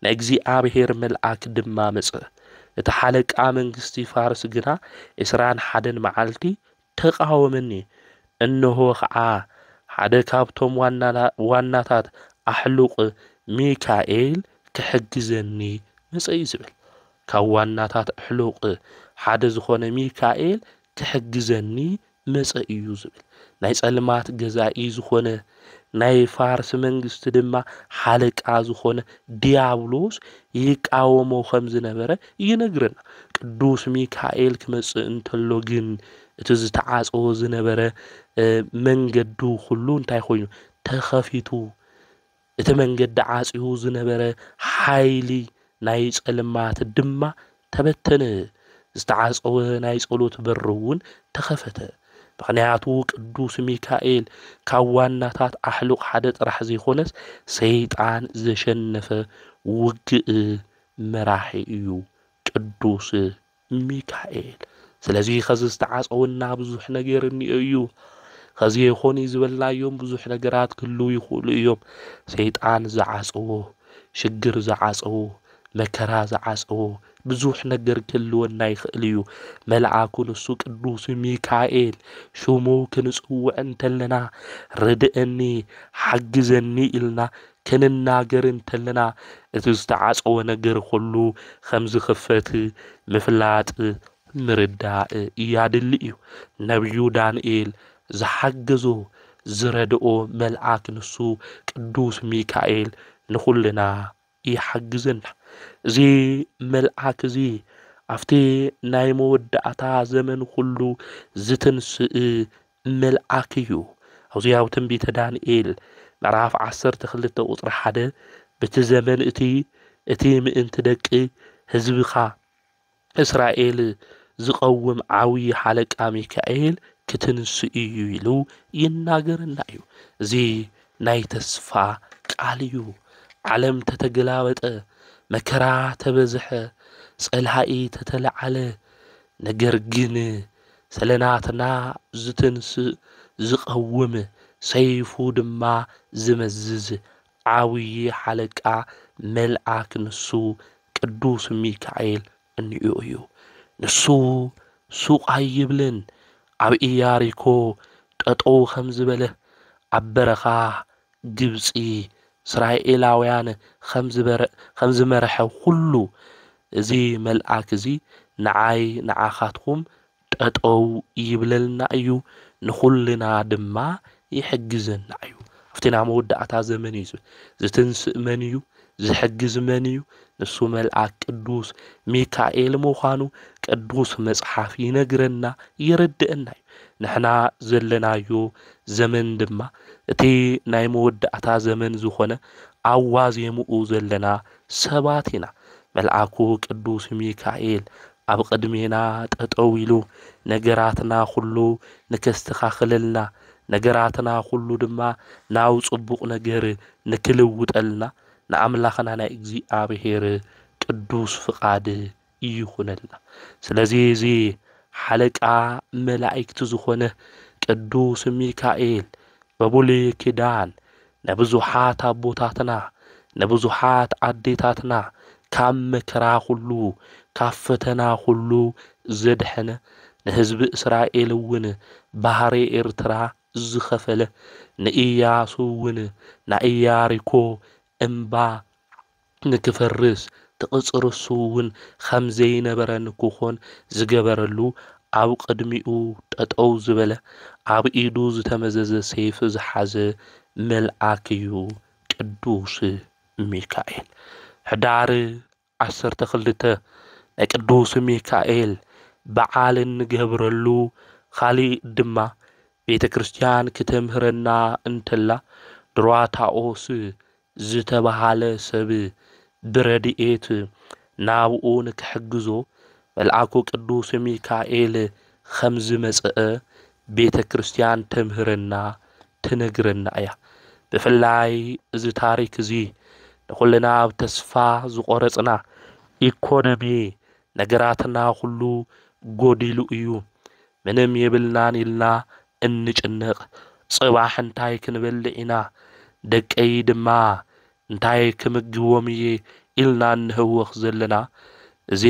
Speaker 1: ናይ እግዚኣብሔር መልኣክ ድማ መጸ እቲ ሓለቃ መንግስቲ ፋርስ ግና ዕስራን ሓደን መዓልቲ ተቓወመኒ። እንሆ ኸዓ ሓደ ካብቶም ዋናታት ኣሕሉቕ ሚካኤል ክሕግዘኒ መጸ'ዩ ዝብል። ካብ ዋናታት ኣሕሉቕ ሓደ ዝኾነ ሚካኤል ክሕግዘኒ መጸ'ዩ ዝብል። ናይ ጸልማት ገዛኢ ዝኾነ ናይ ፋርስ መንግስቲ ድማ ሓለቃ ዝኾነ ድያብሎስ ይቃወሞ ከም ዝነበረ ይነግረና። ቅዱስ ሚካኤል ክመጽእ እንተሎ ግን እቲ ዝተዓጸወ ዝነበረ መንገዱ ኩሉ እንታይ ኮይኑ ተኸፊቱ እቲ መንገዲ ዓጽዩ ዝነበረ ሓይሊ ናይ ጸልማት ድማ ተበተነ፣ ዝተዓጸወ ናይ ጸሎት በሪ እውን ተኸፈተ፣ ምኽንያቱ ቅዱስ ሚካኤል ካብ ዋናታት ኣሕሉቕ ሓደ ጥራሕ ዘይኮነስ ሰይጣን ዘሸነፈ ውግእ መራሒ እዩ ቅዱስ ሚካኤል ስለዚ ከዚ ዝተዓጸወና ብዙሕ ነገር እኒኦ እዩ ከዚ ይኾን ዝበልናዮም ብዙሕ ነገራት ክህልው ይኽእሉ እዮም ሰይጣን ዝዓጸዎ ሽግር ዝዓጸዎ መከራ ዝዓጸዎ ብዙሕ ነገር ክህልወና ይኽእል እዩ። መልኣኩ ንሱ ቅዱስ ሚካኤል ሽሙ ክንጽውዕ እንተለና ርድእኒ ሓግዘኒ ኢልና ክንናገር እንተለና እቲ ዝተዓጸወ ነገር ኩሉ ከም ዝኽፈት ምፍላጥ ምርዳእ ያድሊ እዩ። ነብዩ ዳንኤል ዝሓገዞ ዝረድኦ መልኣክ ንሱ ቅዱስ ሚካኤል ንኹልና ይሓግዘና። እዚ መልኣክ እዚ ኣብቲ ናይ መወዳእታ ዘመን ኩሉ ዝትንስእ መልኣክ እዩ። ኣብዚ ኣብ ትንቢተ ዳንኤል ምዕራፍ ዓሰርተ ክልተ ቁጽሪ ሓደ በቲ ዘመን እቲ እቲ ምእንቲ ደቂ ህዝብኻ እስራኤል ዝቐውም ዓውዪ ሓለቃ ሚካኤል ክትንሱ እዩ ኢሉ ይናገረና እዩ እዚ ናይ ተስፋ ቃል እዩ ዓለም ተተገላበጠ መከራ ተበዝሐ ጸላኢ ተተለዓለ ነገር ግን ሰለናትና ዝትንስእ ዝቐውም ሰይፉ ድማ ዝመዝዝ ዓብዪ ሓለቃ መልኣክ ንሱ ቅዱስ ሚካኤል እንይኡ እዩ። ንሱ ሱቕ ኣይብልን። ኣብ ኢያሪኮ ጠጠው ከም ዝበለ፣ ኣብ በረኻ ግብፂ እስራኤላውያን ከም ዝመረሐ ኹሉ፣ እዚ መልኣክ እዚ ንዓይ ንዓኻትኩም ጠጠው ይብለልና እዩ ንኹልና ድማ ይሕግዘና እዩ ኣብቲ ናይ መወዳእታ ዘመን እዩ ዝብል ዝትንስእ መን እዩ ዝሕግዝ መን እዩ ንሱ መልኣክ ቅዱስ ሚካኤል ምዃኑ ቅዱስ መጽሓፍ ይነግረና የረድእና እዩ ንሕና ዘለናዮ ዘመን ድማ እቲ ናይ መወዳእታ ዘመን ዝኾነ ኣብ ዋዜምኡ ዘለና ሰባት ኢና መልኣኩ ቅዱስ ሚካኤል ኣብ ቕድሜና ጠጠው ኢሉ ነገራትና ኹሉ ንከስተኻኽለልና ነገራትና ኹሉ ድማ ናብ ፅቡቕ ነገር ንክልውጠልና ንኣምላኽና ናይ እግዚኣብሔር ቅዱስ ፍቓድ ይኹነልና ስለዚ እዚ ሓለቃ መላኢክት ዝኾነ ቅዱስ ሚካኤል በቡሉይ ኪዳን ንብዙሓት ኣቦታትና ንብዙሓት ኣዴታትና ካብ መከራ ኩሉ ካብ ፈተና ኩሉ ዘድሐነ ንህዝቢ እስራኤል እውን ባህሪ ኤርትራ ዝኸፈለ ንእያሱ እውን ናይ እያሪኮ እምባ ንክፈርስ ተቕጽርሱውን ኸም ዘይነበረ ንክኾን ዝገበረሉ ኣብ ቕድሚኡ ጠጠው ዝበለ ኣብ ኢዱ ዝተመዘዘ ሰይፊ ዝሓዘ መልኣክ እዩ ቅዱስ ሚካኤል ሕዳር ዓሰርተ ክልተ ናይ ቅዱስ ሚካኤል በዓል እንገብረሉ ኻሊእ ድማ ቤተ ክርስቲያን ክተምህረና እንተላ ድሯታኦስ ዝተበሃለ ሰብ ብረድኤት ናብኡ ንክሕግዞ መልኣኩ ቅዱስ ሚካኤል ኸም ዝመጸኣ ቤተ ክርስቲያን ተምህረና ትነግረና እያ። ብፍላይ እዚ ታሪክ እዚ ንኹልና ኣብ ተስፋ ዝቆረጽና ኢኮኖሚ ነገራትና ኩሉ ጎዲሉ እዩ ምንም የብልናን ኢልና እንጭነቅ ጽባሕ እንታይ ክንበልዕ ኢና ደቀይ ድማ እንታይ ክምግቦም እየ ኢልና እንህወኽ ዘለና እዚ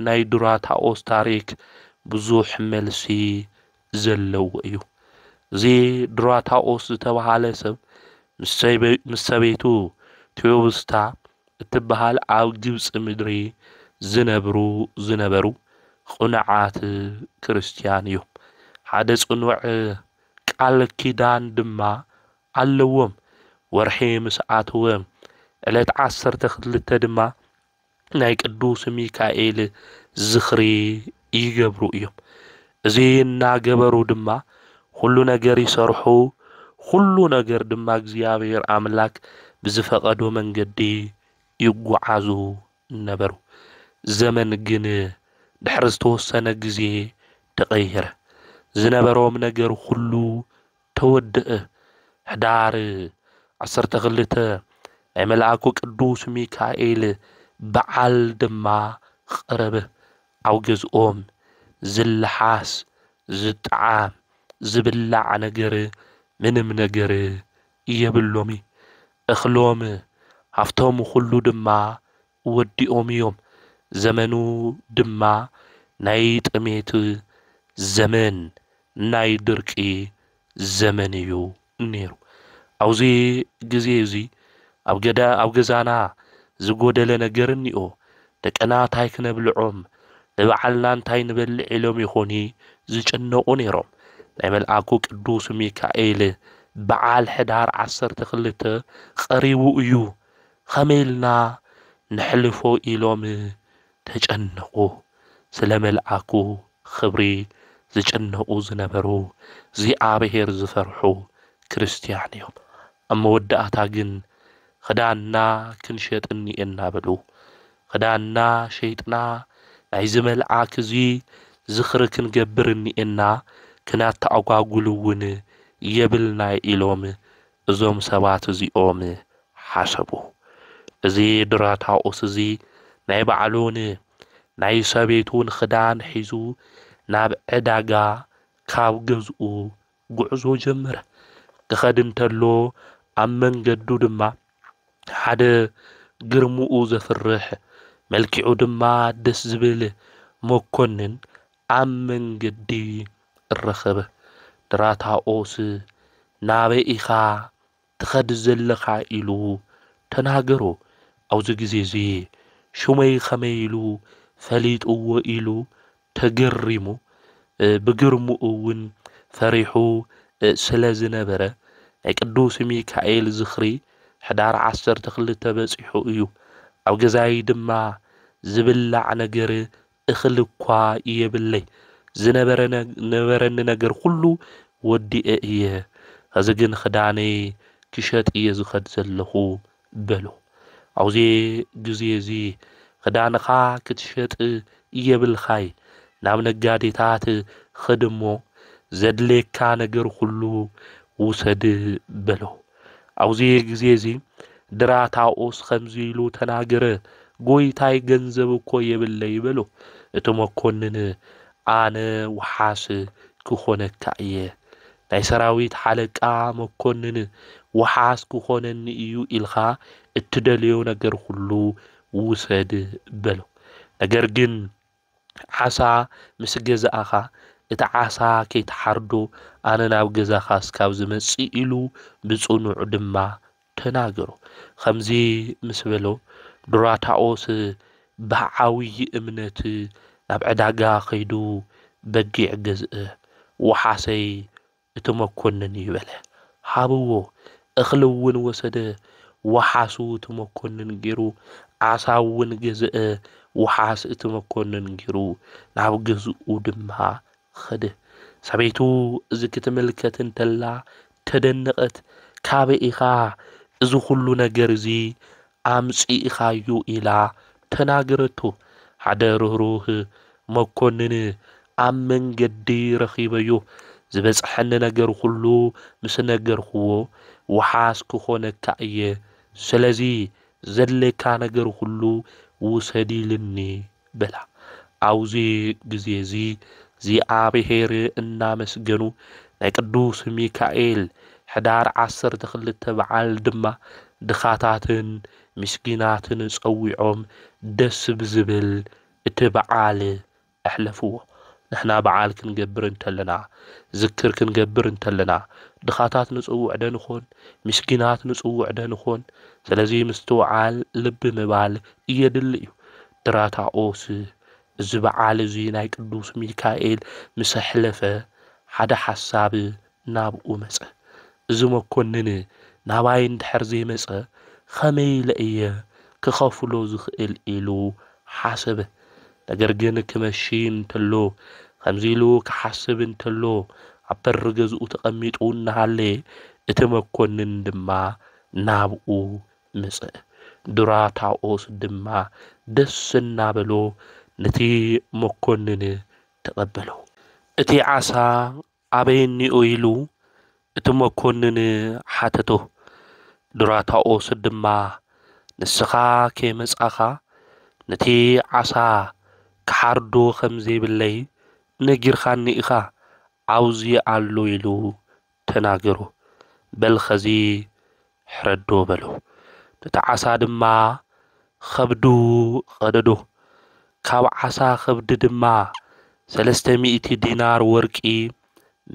Speaker 1: ናይ ዱራታኦስ ታሪክ ብዙሕ መልሲ ዘለዎ እዩ እዚ ዱራታኦስ ዝተባሃለ ሰብ ምስ ሰበይቱ ቲዮብስታ እትበሃል ኣብ ግብጺ ምድሪ ዚነብሩ ዝነበሩ ቕኑዓት ክርስትያን እዮም። ሓደ ጽኑዕ ቃል ኪዳን ድማ ኣለዎም፣ ወርሒ ምስ ኣተወ፣ ዕለት ዓሰርተ ክልተ ድማ ናይ ቅዱስ ሚካኤል ዝኽሪ ይገብሩ እዮም። እዚ እናገበሩ ድማ ዅሉ ነገር ይሰርሑ፣ ዅሉ ነገር ድማ እግዚኣብሄር ኣምላክ ብዝፈቐዶ መንገዲ ይጐዓዙ ነበሩ። ዘመን ግን ድሕሪ ዝተወሰነ ግዜ ተቐየረ፣ ዝነበሮም ነገር ዅሉ ተወድእ ሕዳር ዓሰርተ ክልተ ናይ መልኣኩ ቅዱስ ሚካኤል በዓል ድማ ቐረበ። ኣብ ገዝኦም ዝለሓስ፣ ዝጠዓም፣ ዝብላዕ ነገር ምንም ነገር የብሎሚ። እኽሎም ሃፍቶም ኹሉ ድማ ወዲኦም እዮም። ዘመኑ ድማ ናይ ጥሜት ዘመን ናይ ድርቂ ዘመን እዩ ነይሩ። ኣብዚ ግዜ እዚ ኣብ ገዛና ዝጎደለ ነገር እኒኦ? ደቅና ታይ ክነብልዖም ንባዕልና እንታይ ንበልዕ ኢሎም ይኾኑ ዝጭነቁ ነይሮም። ናይ መልኣኩ ቅዱስ ሚካኤል በዓል ሕዳር ዓሰርተ ክልተ ቀሪቡ እዩ። ኸመይ ኢልና ነሕልፎ ኢሎም ተጨነቑ። ስለ መልኣኩ ኽብሪ ዝጭነቑ ዝነበሩ እግዚኣብሄር ዝፈርሑ ክርስትያን እዮም። ኣብ መወዳእታ ግን ኽዳንና ኽንሸጥ እኒኤና በሉ። ኽዳንና ሸይጥና ናይዚ መልኣክ እዚ ዝኽሪ ኽንገብር እኒኤና፣ ኽናተኣጓጉል እውን የብልናይ ኢሎም እዞም ሰባት እዚኦም ሓሰቡ። እዚ ድራታኦስ እዚ ናይ ባዕሉን ናይ ሰበይቱን ኽዳን ሒዙ ናብ ዕዳጋ ካብ ገዝኡ ጉዕዞ ጀመረ። ክኸድ እንተሎ ኣብ መንገዱ ድማ ሓደ ግርምኡ ዘፍርሕ መልኪዑ ድማ ደስ ዝብል መኮንን ኣብ መንገዲ እረከበ ድራታኦስ ናበይ ኢኻ ትኸድ ዘለኻ ኢሉ ተናገሮ ኣብዚ ግዜ እዚ ሽመይ ከመይ ኢሉ ፈሊጥዎ ኢሉ ተገሪሙ ብግርምኡ እውን ፈሪሑ ስለ ዝነበረ ናይ ቅዱስ ሚካኤል ዝኽሪ ሕዳር ዓሰርተ ክልተ በጺሑ እዩ ኣብ ገዛይ ድማ ዝብላዕ ነገር እኽሊ እኳ የብለይ፣ ዝነበረ ነበረኒ ነገር ኹሉ ወዲኤ እየ፣ ኸዚ ግን ኽዳነይ ክሸጥ እየ ዝኸድ ዘለኹ በሎ። ኣብዙ ግዜ እዙ ኽዳንኻ ክትሸጥ የብልኻይ፣ ናብ ነጋዴታት ኽድ እሞ ዘድልየካ ነገር ኹሉ ውሰድ በሎ። ኣብዚ ግዜ እዚ ድራታኦስ ከምዚ ኢሉ ተናገረ፣ ጎይታይ ገንዘብ እኮ የብለይ በሎ። እቲ መኮንን ኣነ ወሓስ ክኾነካ እየ፣ ናይ ሰራዊት ሓለቃ መኮንን ወሓስ ክኾነኒ እዩ ኢልካ እትደልዮ ነገር ኹሉ ውሰድ በሎ። ነገር ግን ዓሳ ምስ ገዛእኻ፣ እቲ ዓሳ ከይትሓርዶ ኣነ ናብ ገዛኻ እስካብ ዝመጽእ ኢሉ ብጽኑዕ ድማ ተናገሮ። ከምዚ ምስ በሎ፣ ዱራታኦስ ብዓውዪ እምነት ናብ ዕዳጋ ከይዱ በጊዕ ገዝእ። ወሓሰይ እቲ መኮንን እዩ በለ። ሃብዎ! እኽሊ'ውን ወሰደ፣ ወሓሱ እቲ መኮንን ገይሩ፣ ዓሳ'ውን ገዝአ፣ ወሓስ እቲ መኮንን ገይሩ፣ ናብ ገዝኡ ድማ ኸደ። ሰበይቱ እዚ ኽትምልከት እንተላ ተደነቐት፣ ካበይ ኢኻ እዚ ዅሉ ነገር እዚ ኣምጺእኻዮ ኢላ ተናገረቶ። ሓደ ርህሩህ መኰንን ኣብ መንገዲ ረኺበዮ። ዝበጽሐኒ ነገር ዅሉ ምስ ነገርክዎ፣ ወሓስ ክዀነካ እየ። ስለዚ፣ ዘድልየካ ነገር ዅሉ ውሰድ ኢሉኒ። በላ። ኣብዚ ግዜ እዚ እግዚኣብሔር እናመስገኑ ናይ ቅዱስ ሚካኤል ሕዳር ዓሰርተ ክልተ በዓል ድማ ድኻታትን ምስኪናትን ጸዊዖም ደስ ብዝብል እቲ በዓል ኣሕለፍዎ። ንሕና በዓል ክንገብር እንተለና፣ ዝክር ክንገብር እንተለና፣ ድኻታት ንጽውዕ ዶ ንኾን? ምስኪናት ንጽውዕ ዶ ንኾን? ስለዚ ምስትውዓል፣ ልቢ ምባል፣ የድሊ እዩ። ድራታኦስ እዚ በዓል እዚ ናይ ቅዱስ ሚካኤል ምስ ኣሕለፈ፣ ሓደ ሓሳብ ናብኡ መጸ። እዚ መኰንን ናባይ እንድሕር ዘይመጸ፣ ኸመይ ኢለ እየ ክኸፍሎ ዝኽእል? ኢሉ ሓሰበ። ነገር ግን ክመሽ እንተሎ ኸምዚ ኢሉ ክሓስብ እንተሎ፣ ኣብ በሪ ገዝኡ ተቐሚጡ እናሃለየ፣ እቲ መኰንን ድማ ናብኡ መጸ። ዱራታኦስ ድማ ደስ እናበሎ ነቲ መኰንን ተቐበሎ። እቲ ዓሳ ኣበይ'ኒኦ ኢሉ እቲ መኮንን ሓተቶ። ዱራታኦስ ድማ ንስኻ ከይመጻኻ ነቲ ዓሳ ክሓርዶ ከም ዘይብለይ ነጊርካኒ ኢኻ፣ ኣብዙይ ኣሎ ኢሉ ተናገሮ። በል ኸዚ ሕረዶ በሎ። ነቲ ዓሳ ድማ ኸብዱ ቐደዶ። ካብ ዓሳ ኸብዲ ድማ ሰለስተ ሚእቲ ዲናር ወርቂ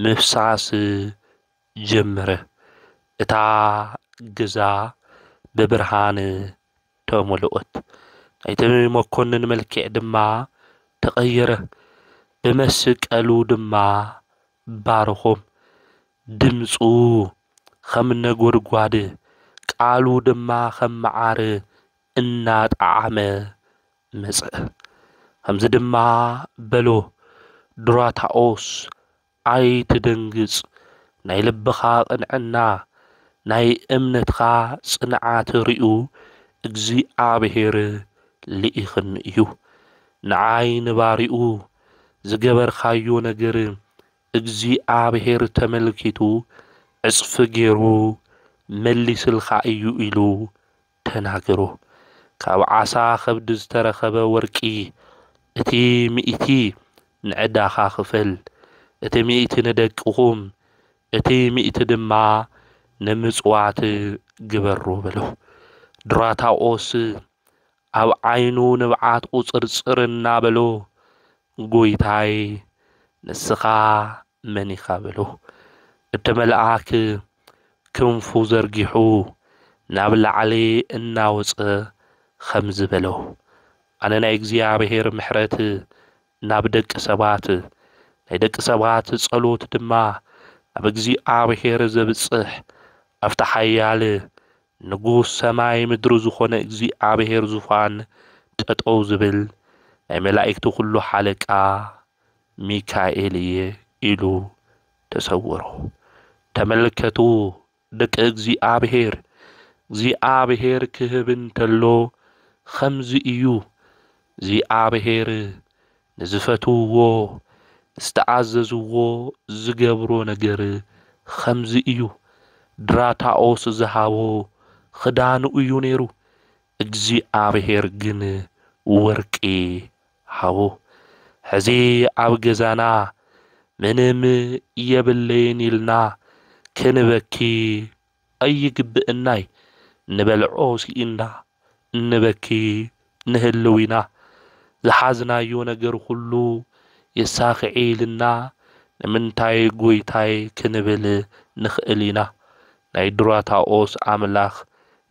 Speaker 1: ምፍሳስ ጀመረ። እታ ገዛ ብብርሃን ተመልኦት፣ ናይቲ መኰንን መልክዕ ድማ ተቐየረ፣ ብመስቀሉ ድማ ባርኹም፣ ድምጹ ኸም ነጐድጓድ፣ ቃሉ ድማ ኸም መዓር እናጠዓመ መጸ። ኸምዚ ድማ በሎ፣ ዱራታኦስ፣ ኣይትደንግጽ፣ ናይ ልብኻ ቕንዕና፣ ናይ እምነትካ ጽንዓት ርእዩ፣ እግዚኣብሄር ልኢኽኒ እዩ። ንዓይ ንባሪኡ ዝገበርካዮ ነገር እግዚኣብሔር ተመልኪቱ ዕጽፊ ገይሩ መሊስልካ እዩ ኢሉ ተናገሮ ካብ ዓሳ ከብዲ ዝተረኸበ ወርቂ እቲ ሚእቲ ንዕዳኻ ክፈል እቲ ሚእቲ ንደቅኹም እቲ ሚእቲ ድማ ንምጽዋት ግበሮ በሎ ድራታኦስ ኣብ ዓይኑ ንብዓት ቁጽርጽር እናበሎ ጎይታይ ንስኻ መን ኢኻ በሎ። እቲ መልኣክ ክንፉ ዘርጊሑ ናብ ላዕሊ እናወጸ ኸምዚ በሎ፣ ኣነ ናይ እግዚኣብሔር ምሕረት ናብ ደቂ ሰባት፣ ናይ ደቂ ሰባት ጸሎት ድማ ናብ እግዚኣብሔር ዘብጽሕ ኣብቲ ሓያል ንጉስ ሰማይ ምድሪ ዝኾነ እግዚኣብሔር ዙፋን ጠጠው ዝብል ናይ መላኢክቲ ኩሉ ሓለቃ ሚካኤል እየ ኢሉ ተሰወሮ። ተመልከቱ ደቂ እግዚኣብሔር እግዚኣብሔር ክህብ እንተሎ ኸምዚ እዩ እግዚኣብሔር ንዝፈትውዎ ዝተኣዘዝዎ ዝገብሮ ነገር ኸምዚ እዩ ድራታኦስ ዝሃቦ ኽዳኑ እዩ ነይሩ እግዚኣብሔር ግን ወርቂ ሃቦ ሕዚ ኣብ ገዛና ምንም የብለይን ኢልና ክንበኪ ኣይግብእናይ ንበልዖ ስኢንና እንበኪ ንህልው ኢና ዝሓዝናዮ ነገር ኩሉ የሳክዔኢልና ንምንታይ ጎይታይ ክንብል ንክእል ኢና ናይ ዱራታኦስ ኣምላክ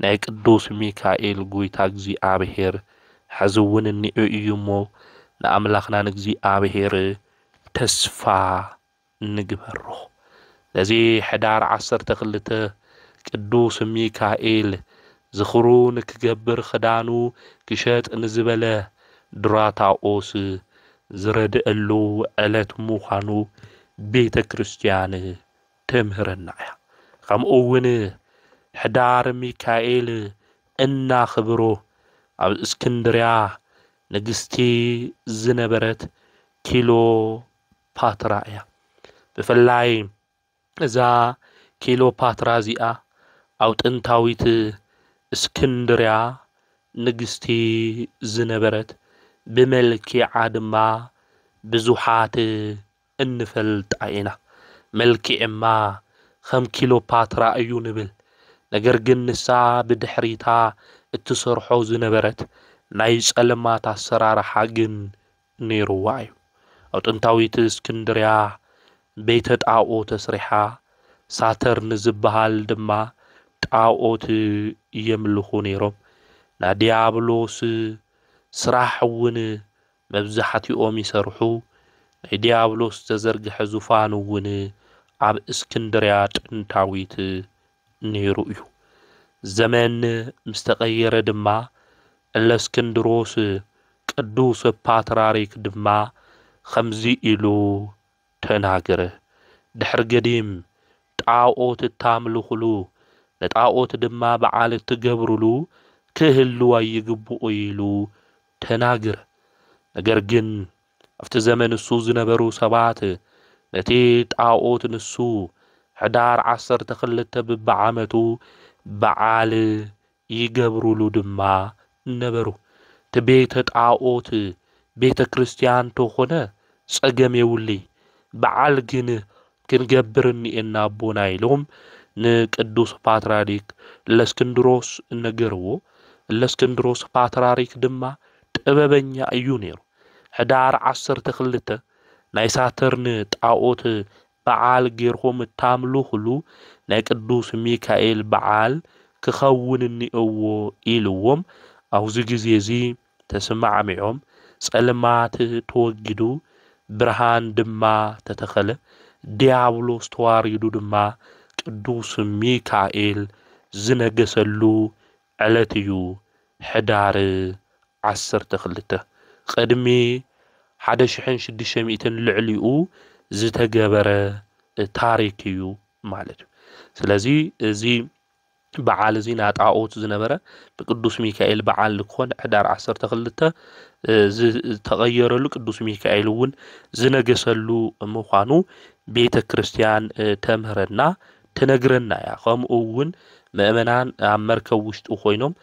Speaker 1: ናይ ቅዱስ ሚካኤል ጎይታ እግዚኣብሔር ሐዚ እውን እኒኦ እዩ እሞ ንኣምላክና ንእግዚኣብሔር ተስፋ ንግበሮ። ነዚ ሕዳር ዓሰርተ ክልተ ቅዱስ ሚካኤል ዝኽሩ ንክገብር ክዳኑ ክሸጥ ንዝበለ ድራታኦስ ዝረድእሉ ዕለት ምዃኑ ቤተ ክርስቲያን ተምህረና እያ። ከምኡ እውን ሕዳር ሚካኤል እናኽብሮ ኣብ እስክንድርያ ንግስቲ ዝነበረት ኪሎ ፓትራ እያ። ብፍላይ እዛ ኪሎፓትራ እዚኣ ኣብ ጥንታዊት እስክንድርያ ንግስቲ ዝነበረት ብመልኪዓ ድማ ብዙሓት እንፈልጣ ኢና። መልኪዕማ ከም ኪሎፓትራ እዩ ንብል። ነገር ግን ንሳ ብድሕሪታ እትሰርሖ ዝነበረት ናይ ጸልማት ኣሰራርሓ ግን ነይሩዋ እዩ። ኣብ ጥንታዊት እስክንድርያ ቤተ ጣኦ ተስሪሓ፣ ሳተርን ዝበሃል ድማ ጣኦት የምልኹ ነይሮም። ናይ ድያብሎስ ስራሕ እውን መብዛሕቲኦም ይሰርሑ። ናይ ድያብሎስ ዝተዘርግሐ ዙፋን እውን ኣብ እስክንድርያ ጥንታዊት ነይሩ እዩ። ዘመን ምስ ተቐየረ ድማ እለስክንድሮስ ቅዱስ ፓትራሪክ ድማ ኸምዚ ኢሉ ተናገረ፣ ድሕሪ ገዲም ጣኦት እታምልኹሉ፣ ንጣኦት ድማ በዓል እትገብሩሉ ክህሉ ኣይግብኡይ ኢሉ ተናገረ። ነገር ግን ኣብቲ ዘመን ንሱ ዝነበሩ ሰባት ነቲ ጣኦት ንሱ ሕዳር ዓሰርተ ክልተ ብብዓመቱ በዓል ይገብሩሉ ድማ ነበሩ። እቲ ቤተ ጣኦት ቤተ ክርስቲያን ተኾነ ጸገም የብሉይ በዓል ግን ክንገብር እኒኤና ኣቦና ኢሎም ንቅዱስ ፓትርያርክ እለስክንድሮስ ነገርዎ። እለስክንድሮስ ፓትርያርክ ድማ ጥበበኛ እዩ ነይሩ። ሕዳር ዓሰርተ ክልተ ናይ ሳትርን ጣኦት በዓል ጌርኩም እታምልኹሉ ናይ ቅዱስ ሚካኤል በዓል ክኸውን እኒኦዎ ኢልዎም ኣውዚ ግዜ እዚ ተስማዕሚዖም ጸልማት ተወጊዱ ብርሃን ድማ ተተኸለ ድያብሎስ ተዋሪዱ ድማ ቅዱስ ሚካኤል ዝነገሰሉ ዕለት እዩ ሕዳር ዓሰርተ ክልተ። ቅድሚ ሓደ ሽሕን ሽዱሽተ ሚእትን ልዕሊኡ ዝተገበረ ታሪክ እዩ ማለት እዩ። ስለዚ እዚ በዓል እዚ ናጣኦት ዝነበረ ንቅዱስ ሚካኤል በዓል ንክኾን ሕዳር ዓሰርተ ክልተ ዝተቐየረሉ ቅዱስ ሚካኤል እውን ዝነገሰሉ ምዃኑ ቤተ ክርስቲያን ተምህረና ትነግረና እያ ከምኡ እውን መእመናን ኣብ መርከብ ውሽጢ ኮይኖም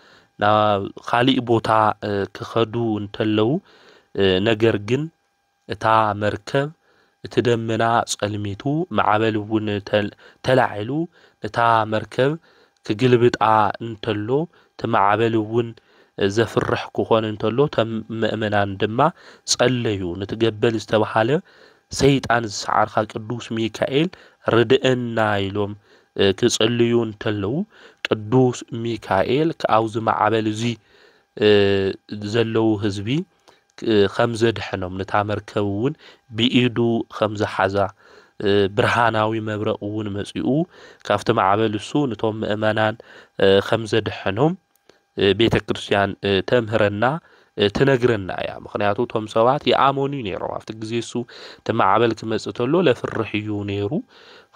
Speaker 1: ናብ ካሊእ ቦታ ክኸዱ እንተለው ነገር ግን እታ መርከብ እቲ ደመና ጸልሚቱ ማዕበል እውን ተላዒሉ ነታ መርከብ ክግልብጣ እንተሎ እቲ ማዕበል እውን ዘፍርሕ ክኾን እንተሎ ተም መእመናን ድማ ጸለዩ ንትገበል ዝተብሃለ ሰይጣን ዝሰዓርካ ቅዱስ ሚካኤል ርደኤና ኢሎም ክጽልዩ እንተለዉ ቅዱስ ሚካኤል ካብዚ ማዕበል እዚ ዘለዉ ህዝቢ ከም ዘድሐኖም ነታ መርከብ እውን ብኢዱ ከም ዝሓዛ ብርሃናዊ መብረቕ እውን መጺኡ ካብቲ ማዕበል እሱ ነቶም ምእመናን ከም ዘድሐኖም ቤተ ክርስትያን ተምህረና ትነግረና እያ ምክንያቱ እቶም ሰባት ይኣመኑ እዩ ነይሮም ኣብቲ ግዜ እሱ እቲ ማዕበል ክመጽእ ተሎ ለፍርሕ እዩ ነይሩ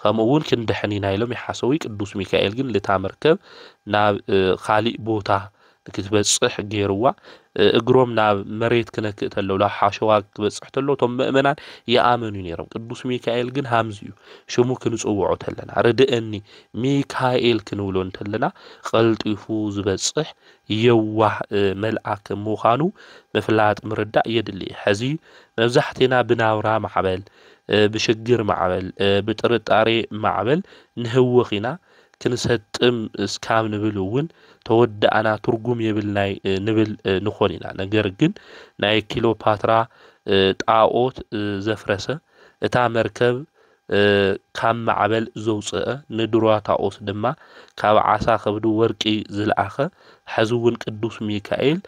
Speaker 1: ከምኡ እውን ክንድሕን ኢና ኢሎም ይሓሰቡ ቅዱስ ሚካኤል ግን ልታ መርከብ ናብ ካሊእ ቦታ ንክትበጽሕ ገይርዋ እግሮም ናብ መሬት ክነክእ ተሎ ናብ ሓሸዋ ክበጽሕ ተሎ እቶም ምእመናን ይኣመኑ ነይሮም ቅዱስ ሚካኤል ግን ሃምዚ እዩ ሽሙ ክንጽውዖ ተለና ርድእኒ ሚካኤል ክንብሎ እንተለና ቐልጢፉ ዝበጽሕ የዋህ መልኣክ ምዃኑ ምፍላጥ ምርዳእ የድሊ። ሕዚ መብዛሕቴና ብናብራ ማዕበል፣ ብሽግር ማዕበል፣ ብጥርጣሬ ማዕበል ንህወኽ ኢና፣ ክንሰጥም እስካብ ንብል እውን ተወዳእና ትርጉም የብልናይ ንብል ንኾን ኢና። ነገር ግን ናይ ኪሎፓትራ ጣኦት ዘፍረሰ፣ እታ መርከብ ካብ ማዕበል ዘውጽእ፣ ንድሩታኦስ ድማ ካብ ዓሳ ከብዲ ወርቂ ዝልኣኸ፣ ሕዚ እውን ቅዱስ ሚካኤል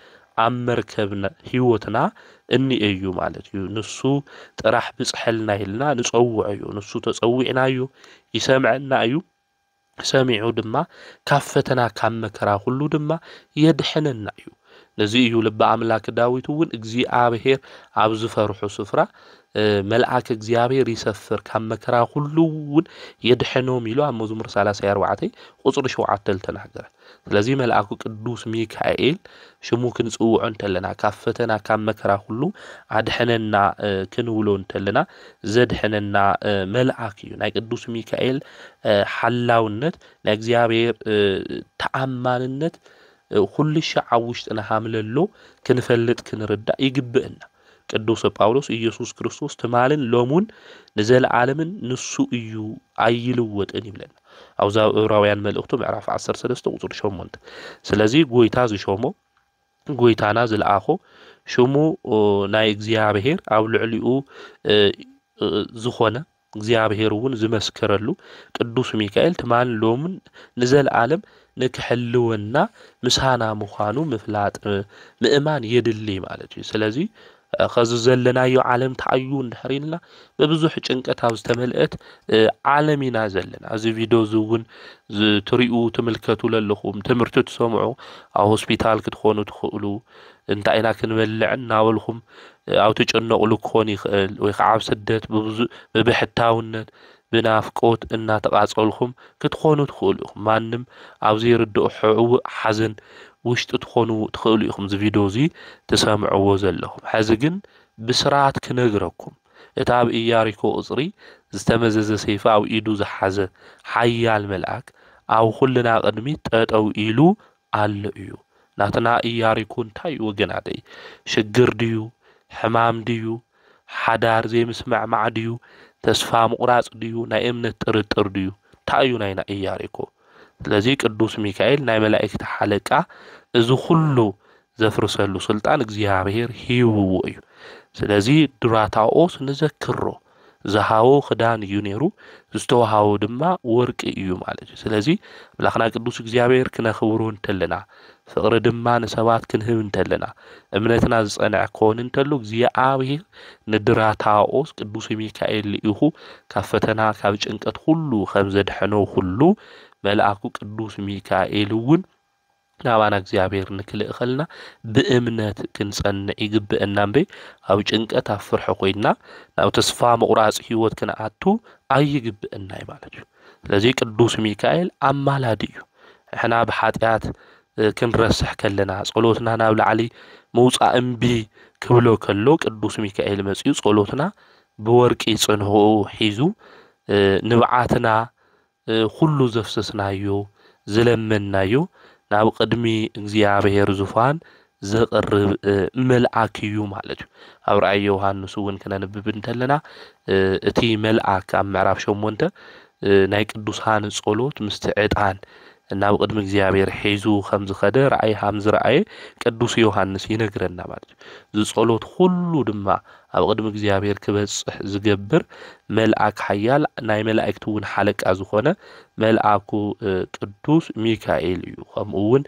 Speaker 1: ኣብ መርከብ ሕይወትና እኒኤ እዩ ማለት እዩ። ንሱ ጥራሕ ብጽሐልና ኢልና ንጸውዖ እዩ። ንሱ ተጸዊዕናዮ ይሰምዐና እዩ። ሰሚዑ ድማ ካብ ፈተና ካብ መከራ ዅሉ ድማ የድሕነና እዩ። ነዚ እዩ ልበ ኣምላክ ዳዊት እውን እግዚኣብሔር ኣብ ዝፈርሑ ስፍራ መልኣክ እግዚኣብሔር ይሰፍር ካብ መከራ ዅሉ እውን የድሕኖም ኢሉ ኣብ መዝሙር ሳላሳይ ኣርባዕተይ ቍጽሪ ሸውዓተ ልተናገረ። ስለዚ መልኣኩ ቅዱስ ሚካኤል ሽሙ ክንጽውዖ እንተለና ካብ ፈተና ካብ መከራ ኩሉ ኣድሕነና ክንብሎ እንተለና ዘድሕነና መልኣክ እዩ። ናይ ቅዱስ ሚካኤል ሓላውነት ናይ እግዚኣብሔር ተኣማንነት ኩሉ ሻዕ ኣብ ውሽጥና ሃምለሎ ክንፈልጥ ክንርዳእ ይግብእና። ቅዱሰ ጳውሎስ ኢየሱስ ክርስቶስ ትማልን ሎሙን ንዘለዓለምን ንሱ እዩ ኣይልወጥን ይብለና ኣብዛ ዕብራውያን መልእኽቱ ምዕራፍ 13 ቁፅሪ 8 ስለዚ ጎይታ ዝሾሞ ጎይታና ዝለኣኾ ሽሙ ናይ እግዚኣብሔር ኣብ ልዕሊኡ ዝኾነ እግዚኣብሔር እውን ዝመስከረሉ ቅዱስ ሚካኤል ትማልን ሎምን ንዘለዓለም ንክሕልወና ምሳና ምዃኑ ምፍላጥ ምእማን የድሊ ማለት እዩ። ስለዚ ከዚ ዘለናዮ ዓለም ተኣዩ እንድሕር ኢልና ብብዙሕ ጭንቀት ኣብ ዝተመልአት ዓለም ኢና ዘለና። እዚ ቪድዮ እዚ እውን ትሪኡ ትምልከቱ ለለኹም ትምህርቲ ትሰምዑ ኣብ ሆስፒታል ክትኾኑ ትኽእሉ፣ እንታይ ኢና ክንበልዕ እናበልኩም ኣብ ትጭነቕሉ ክኾን ይኽእል ወይ ከዓ ኣብ ስደት ብብዙ ብብሕታውነት ብናፍቆት እናተቓፀልኩም ክትኾኑ ትኽእሉ ኢኹም ማንም ኣብ ዘይርድኦ ሕውእ ሓዘን ውሽጢ ትኾኑ ትኽእሉ ኢኹም እዚ ቪድዮ እዚ ትሰምዕዎ ዘለኹም ሕዚ ግን ብስራት ክነግረኩም እቲ ኣብ ኢያሪኮ ቕፅሪ ዝተመዘዘ ሰይፊ ኣብ ኢዱ ዝሓዘ ሓያል መልኣክ ኣብ ኹልና ቕድሚት ጠጠው ኢሉ ኣሎ እዩ ናትና ኢያሪኩ እንታይ እዩ ወገናተይ ሽግር ድዩ ሕማም ድዩ ሓዳር ዘይምስምዕማዕ ድዩ ተስፋ ምቑራጽ ድዩ ናይ እምነት ጥርጥር ድዩ እንታይ እዩ ናይና ኢያሪኩ ስለዚ ቅዱስ ሚካኤል ናይ መላእክቲ ሓለቃ እዚ ኩሉ ዘፍርሰሉ ስልጣን እግዚኣብሔር ሂብዎ እዩ ስለዚ ዱራታኦስ ንዘክሮ ዝሃቦ ክዳን እዩ ነይሩ፣ ዝተዋሃቦ ድማ ወርቂ እዩ ማለት እዩ። ስለዚ ኣምላኽና ቅዱስ እግዚኣብሔር ክነኽብሮ እንተለና፣ ፍቕሪ ድማ ንሰባት ክንህብ እንተለና፣ እምነትና ዝጸንዐ ክኾን እንተሎ እግዚኣብሔር ንድራታኦስ ቅዱስ ሚካኤል ልኢኹ ካብ ፈተና ካብ ጭንቀት ኩሉ ከም ዘድሐኖ ኩሉ መልኣኩ ቅዱስ ሚካኤል እውን ናባና እግዚኣብሔር ንክልእኸልና ብእምነት ክንጸንዕ ይግብእና እምበይ ኣብ ጭንቀት ኣብ ፍርሒ ኮይንና ናብ ተስፋ ምቑራጽ ህይወት ክንኣቱ ኣይግብእና እዩ ማለት እዩ። ስለዚህ ቅዱስ ሚካኤል ኣማላዲ እዩ። ንሕና ብሓጢኣት ክንረስሕ ከለና ጸሎትና ናብ ላዕሊ ምውጻእ እምቢ ክብሎ ከሎ ቅዱስ ሚካኤል መጺኡ ጸሎትና ብወርቂ ጽንሑ ሒዙ ንብዓትና ኵሉ ዘፍሰስናዮ ዝለመንናዮ ናብ ቕድሚ እግዚኣብሄር ዙፋን ዘቕርብ መልኣክ እዩ ማለት እዩ። ኣብ ራእይ ዮሃንስ እውን ክነንብብ እንተለና እቲ መልኣክ ኣብ ምዕራፍ ሸሞንተ ናይ ቅዱሳን ጸሎት ምስቲ ዕጣን ናብ ቕድሚ እግዚኣብሄር ሒዙ ከም ዝኸደ ራእይ ሃም ዝረኣየ ቅዱስ ዮሃንስ ይነግረና ማለት እዩ። እዚ ጸሎት ዅሉ ድማ ኣብ ቕድሚ እግዚኣብሄር ኪበጽሕ ዚገብር መልኣክ ሓያል፣ ናይ መላእክቲውን ሓለቃ ዝኾነ መልኣኩ ቅዱስ ሚካኤል እዩ። ከምኡውን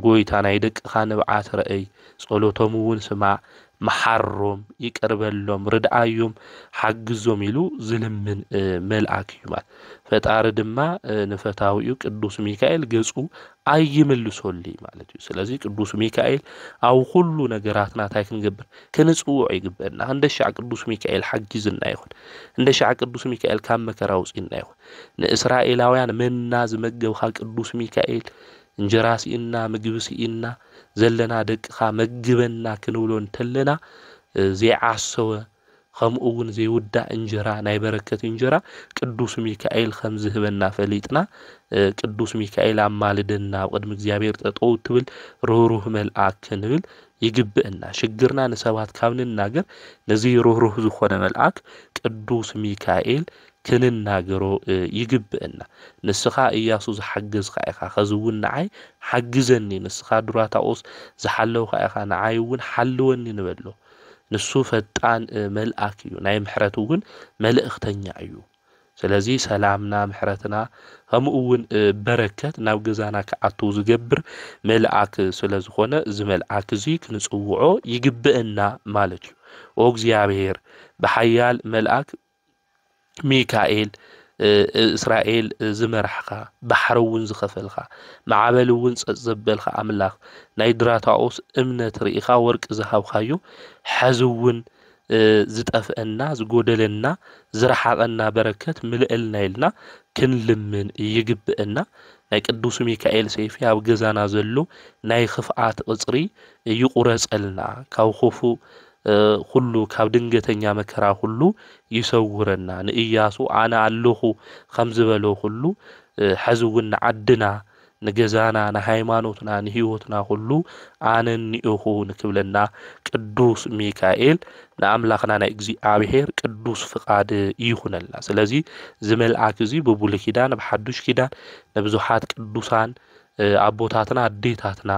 Speaker 1: ጐይታ ናይ ደቅኻ ንብዓት ርኣይ፣ ጸሎቶምውን ስማዕ፣ መሓሮም፣ ይቅር በሎም፣ ርድኣዮም፣ ሓግዞም ኢሉ ዚልምን መልኣክ እዩ። ፈጣሪ ድማ ንፈታዊኡ ቅዱስ ሚካኤል ገጹ ኣይምልሶልይ ማለት እዩ። ስለዚ ቅዱስ ሚካኤል ኣብ ኹሉ ነገራትና እንታይ ክንገብር ክንጽውዖ ይግበእና እንደሻዕ ቅዱስ ሚካኤል ሓጊዙና ይኹን እንደሻዕ ቅዱስ ሚካኤል ካብ መከራ ውጽና ይኹን ንእስራኤላውያን መና ዝመገብካ ቅዱስ ሚካኤል እንጀራ ስኢንና ምግቢ ስኢንና ዘለና ደቅኻ መግበና ክንብሎ እንተለና ዘይዓሰወ ከምኡ እውን ዘይውዳእ እንጀራ ናይ በረከት እንጀራ ቅዱስ ሚካኤል ከም ዝህበና ፈሊጥና ቅዱስ ሚካኤል ኣማልደና ኣብ ቅድሚ እግዚኣብሔር ጠጠው ትብል ርህሩህ መልኣክ ክንብል ይግብእና ሽግርና ንሰባት ካብ ንናገር ነዚ ርህሩህ ዝኾነ መልኣክ ቅዱስ ሚካኤል ክንናገሮ ይግብእና ንስኻ እያሱ ዝሓገዝካ ኢኻ ኸዚ ውን ንዓይ ሓግዘኒ ንስኻ ዱራታኦስ ዝሓለውካ ኢኻ ንዓይ ውን ሓልወኒ ንበሎ ንሱ ፈጣን መልኣክ እዩ ናይ ምሕረት ውን መልእኽተኛ እዩ። ስለዚ ሰላምና ምሕረትና ከምኡ እውን በረከት ናብ ገዛና ክኣትው ዝገብር መልኣክ ስለ ዝኾነ እዚ መልኣክ እዚ ክንጽውዖ ይግብእና ማለት እዩ ኦ እግዚኣብሔር ብሓያል መልኣክ ሚካኤል እስራኤል ዝመራሕኻ ባሕሪ እውን ዝኸፈልካ ማዕበል እውን ጸጥ ዘበልካ ኣምላኽ ናይ ድራታኦስ እምነት ርኢኻ ወርቂ ዝሃብካዮ ሕዚ እውን ዝጠፍእና ዝጎደለና ዝረሓቐና በረከት ምልእልና ኢልና ክንልምን ይግብእና ናይ ቅዱስ ሚካኤል ሰይፊ ኣብ ገዛና ዘሎ ናይ ኽፍኣት ቕጽሪ ይቑረጸልና ካብ ኹፉእ ኹሉ ካብ ድንገተኛ መከራ ኹሉ ይሰውረና ንእያሱ ኣነ ኣለኹ ኸም ዝበሎ ኹሉ ሐዚ እውን ንዓድና ንገዛና ንሃይማኖትና ንህይወትና ኩሉ ኣነኒኡኹ ንክብለና ቅዱስ ሚካኤል ንኣምላኽና ናይ እግዚኣብሔር ቅዱስ ፍቃድ ይኹነልና ስለዚ እዚ መልኣክ እዚ ብብሉይ ኪዳን ብሓዱሽ ኪዳን ንብዙሓት ቅዱሳን ኣቦታትና ኣዴታትና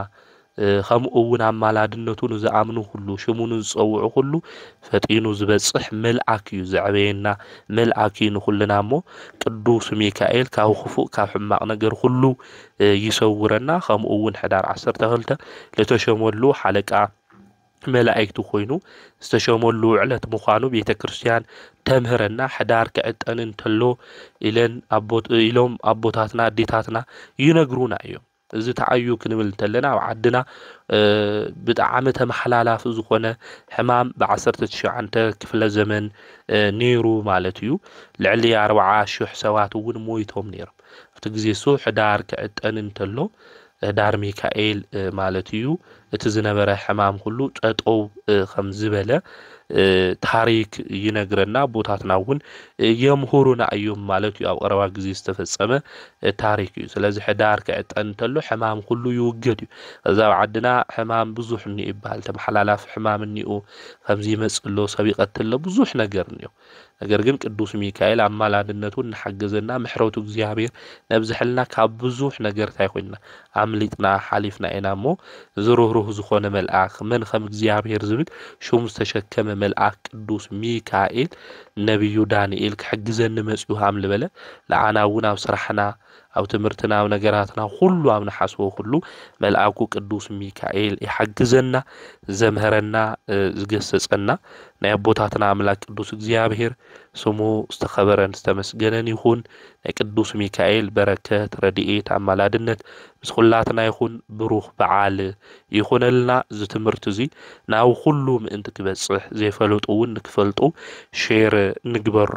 Speaker 1: ከምኡ እውን ኣማላድነቱ ንዝኣምኑ ኹሉ፣ ሽሙ ንዝጸውዑ ኹሉ ፈጢኑ ዝበጽሕ መልኣክ እዩ፣ ዘዕበየና መልኣክ እዩ ንኹልና እሞ ቅዱስ ሚካኤል ካብ ኹፉእ ካብ ሕማቅ ነገር ኹሉ ይሰውረና፣ ከምኡ እውን ሕዳር ዓሰርተ ክልተ ልተሸመሉ ሓለቃ መላእክቲ ኮይኑ ዝተሸመሉ ዕለት ምዃኑ ቤተ ክርስቲያን ተምህረና ሕዳር ክዕጠን እንተሎ ኢለን ኢሎም ኣቦታትና ኣዴታትና ይነግሩና እዮም። እዚ ተዓዩ ክንብል እንተለና ኣብ ዓድና ብጣዕሚ ተመሓላላፊ ዝኾነ ሕማም ብዓሰርተ ትሽዓንተ ክፍለ ዘመን ነይሩ ማለት እዩ። ልዕሊ ኣርብዓ ሽሕ ሰባት እውን ሞይቶም ነይሮም። ኣብቲ ግዜ እሱ ሕዳር ክዕጠን እንተሎ ሕዳር ሚካኤል ማለት እዩ እቲ ዝነበረ ሕማም ኩሉ ጠጠው ከም ዝበለ ታሪክ ይነግረና፣ ኣቦታትና እውን የምህሩና እዩም ማለት እዩ፣ ኣብ ቐረባ ግዜ ዝተፈፀመ ታሪክ እዩ። ስለዚ ሕዳር ክዕጠን እንተሎ ሕማም ኩሉ ይውገድ እዩ። ከዚ ኣብ ዓድና ሕማም ብዙሕ እኒኦ ይበሃል፣ ተመሓላላፊ ሕማም እኒኦ፣ ከምዚ ይመፅእ ኣሎ፣ ሰብ ይቐትል ኣሎ፣ ብዙሕ ነገር እኒኦ። ነገር ግን ቅዱስ ሚካኤል ኣማላድነቱ እናሓገዘና ምሕረቱ እግዚኣብሔር ነብዝሐልና ካብ ብዙሕ ነገር ታይ ኮይንና ኣምሊጥና ሓሊፍና ኢና እሞ እዚ ርህሩህ ዝኾነ መልኣክ መን ከም እግዚኣብሔር ዝብል ሹም ዝተሸከመ መልኣክ ቅዱስ ሚካኤል ነብዩ ዳንኤል ክሕግዘኒ መፅዩ ሃም ልበለ ንዓና እውን ኣብ ስራሕና ኣብ ትምህርትና ኣብ ነገራትና ኩሉ ኣብ ንሓስቦ ኩሉ መልኣኩ ቅዱስ ሚካኤል ይሓግዘና ዘምህረና ዝገሰጸና ናይ ኣቦታትና ኣምላክ ቅዱስ እግዚኣብሔር ስሙ ዝተኸበረን ዝተመስገነን ይኹን ናይ ቅዱስ ሚካኤል በረከት ረድኤት ኣማላድነት ምስ ኩላትና ይኹን ብሩኽ በዓል ይኹነልና እዚ ትምህርቲ እዚ ናብ ኩሉ ምእንቲ ክበጽሕ ዘይፈለጡ እውን ንክፈልጡ ሼር ንግበሮ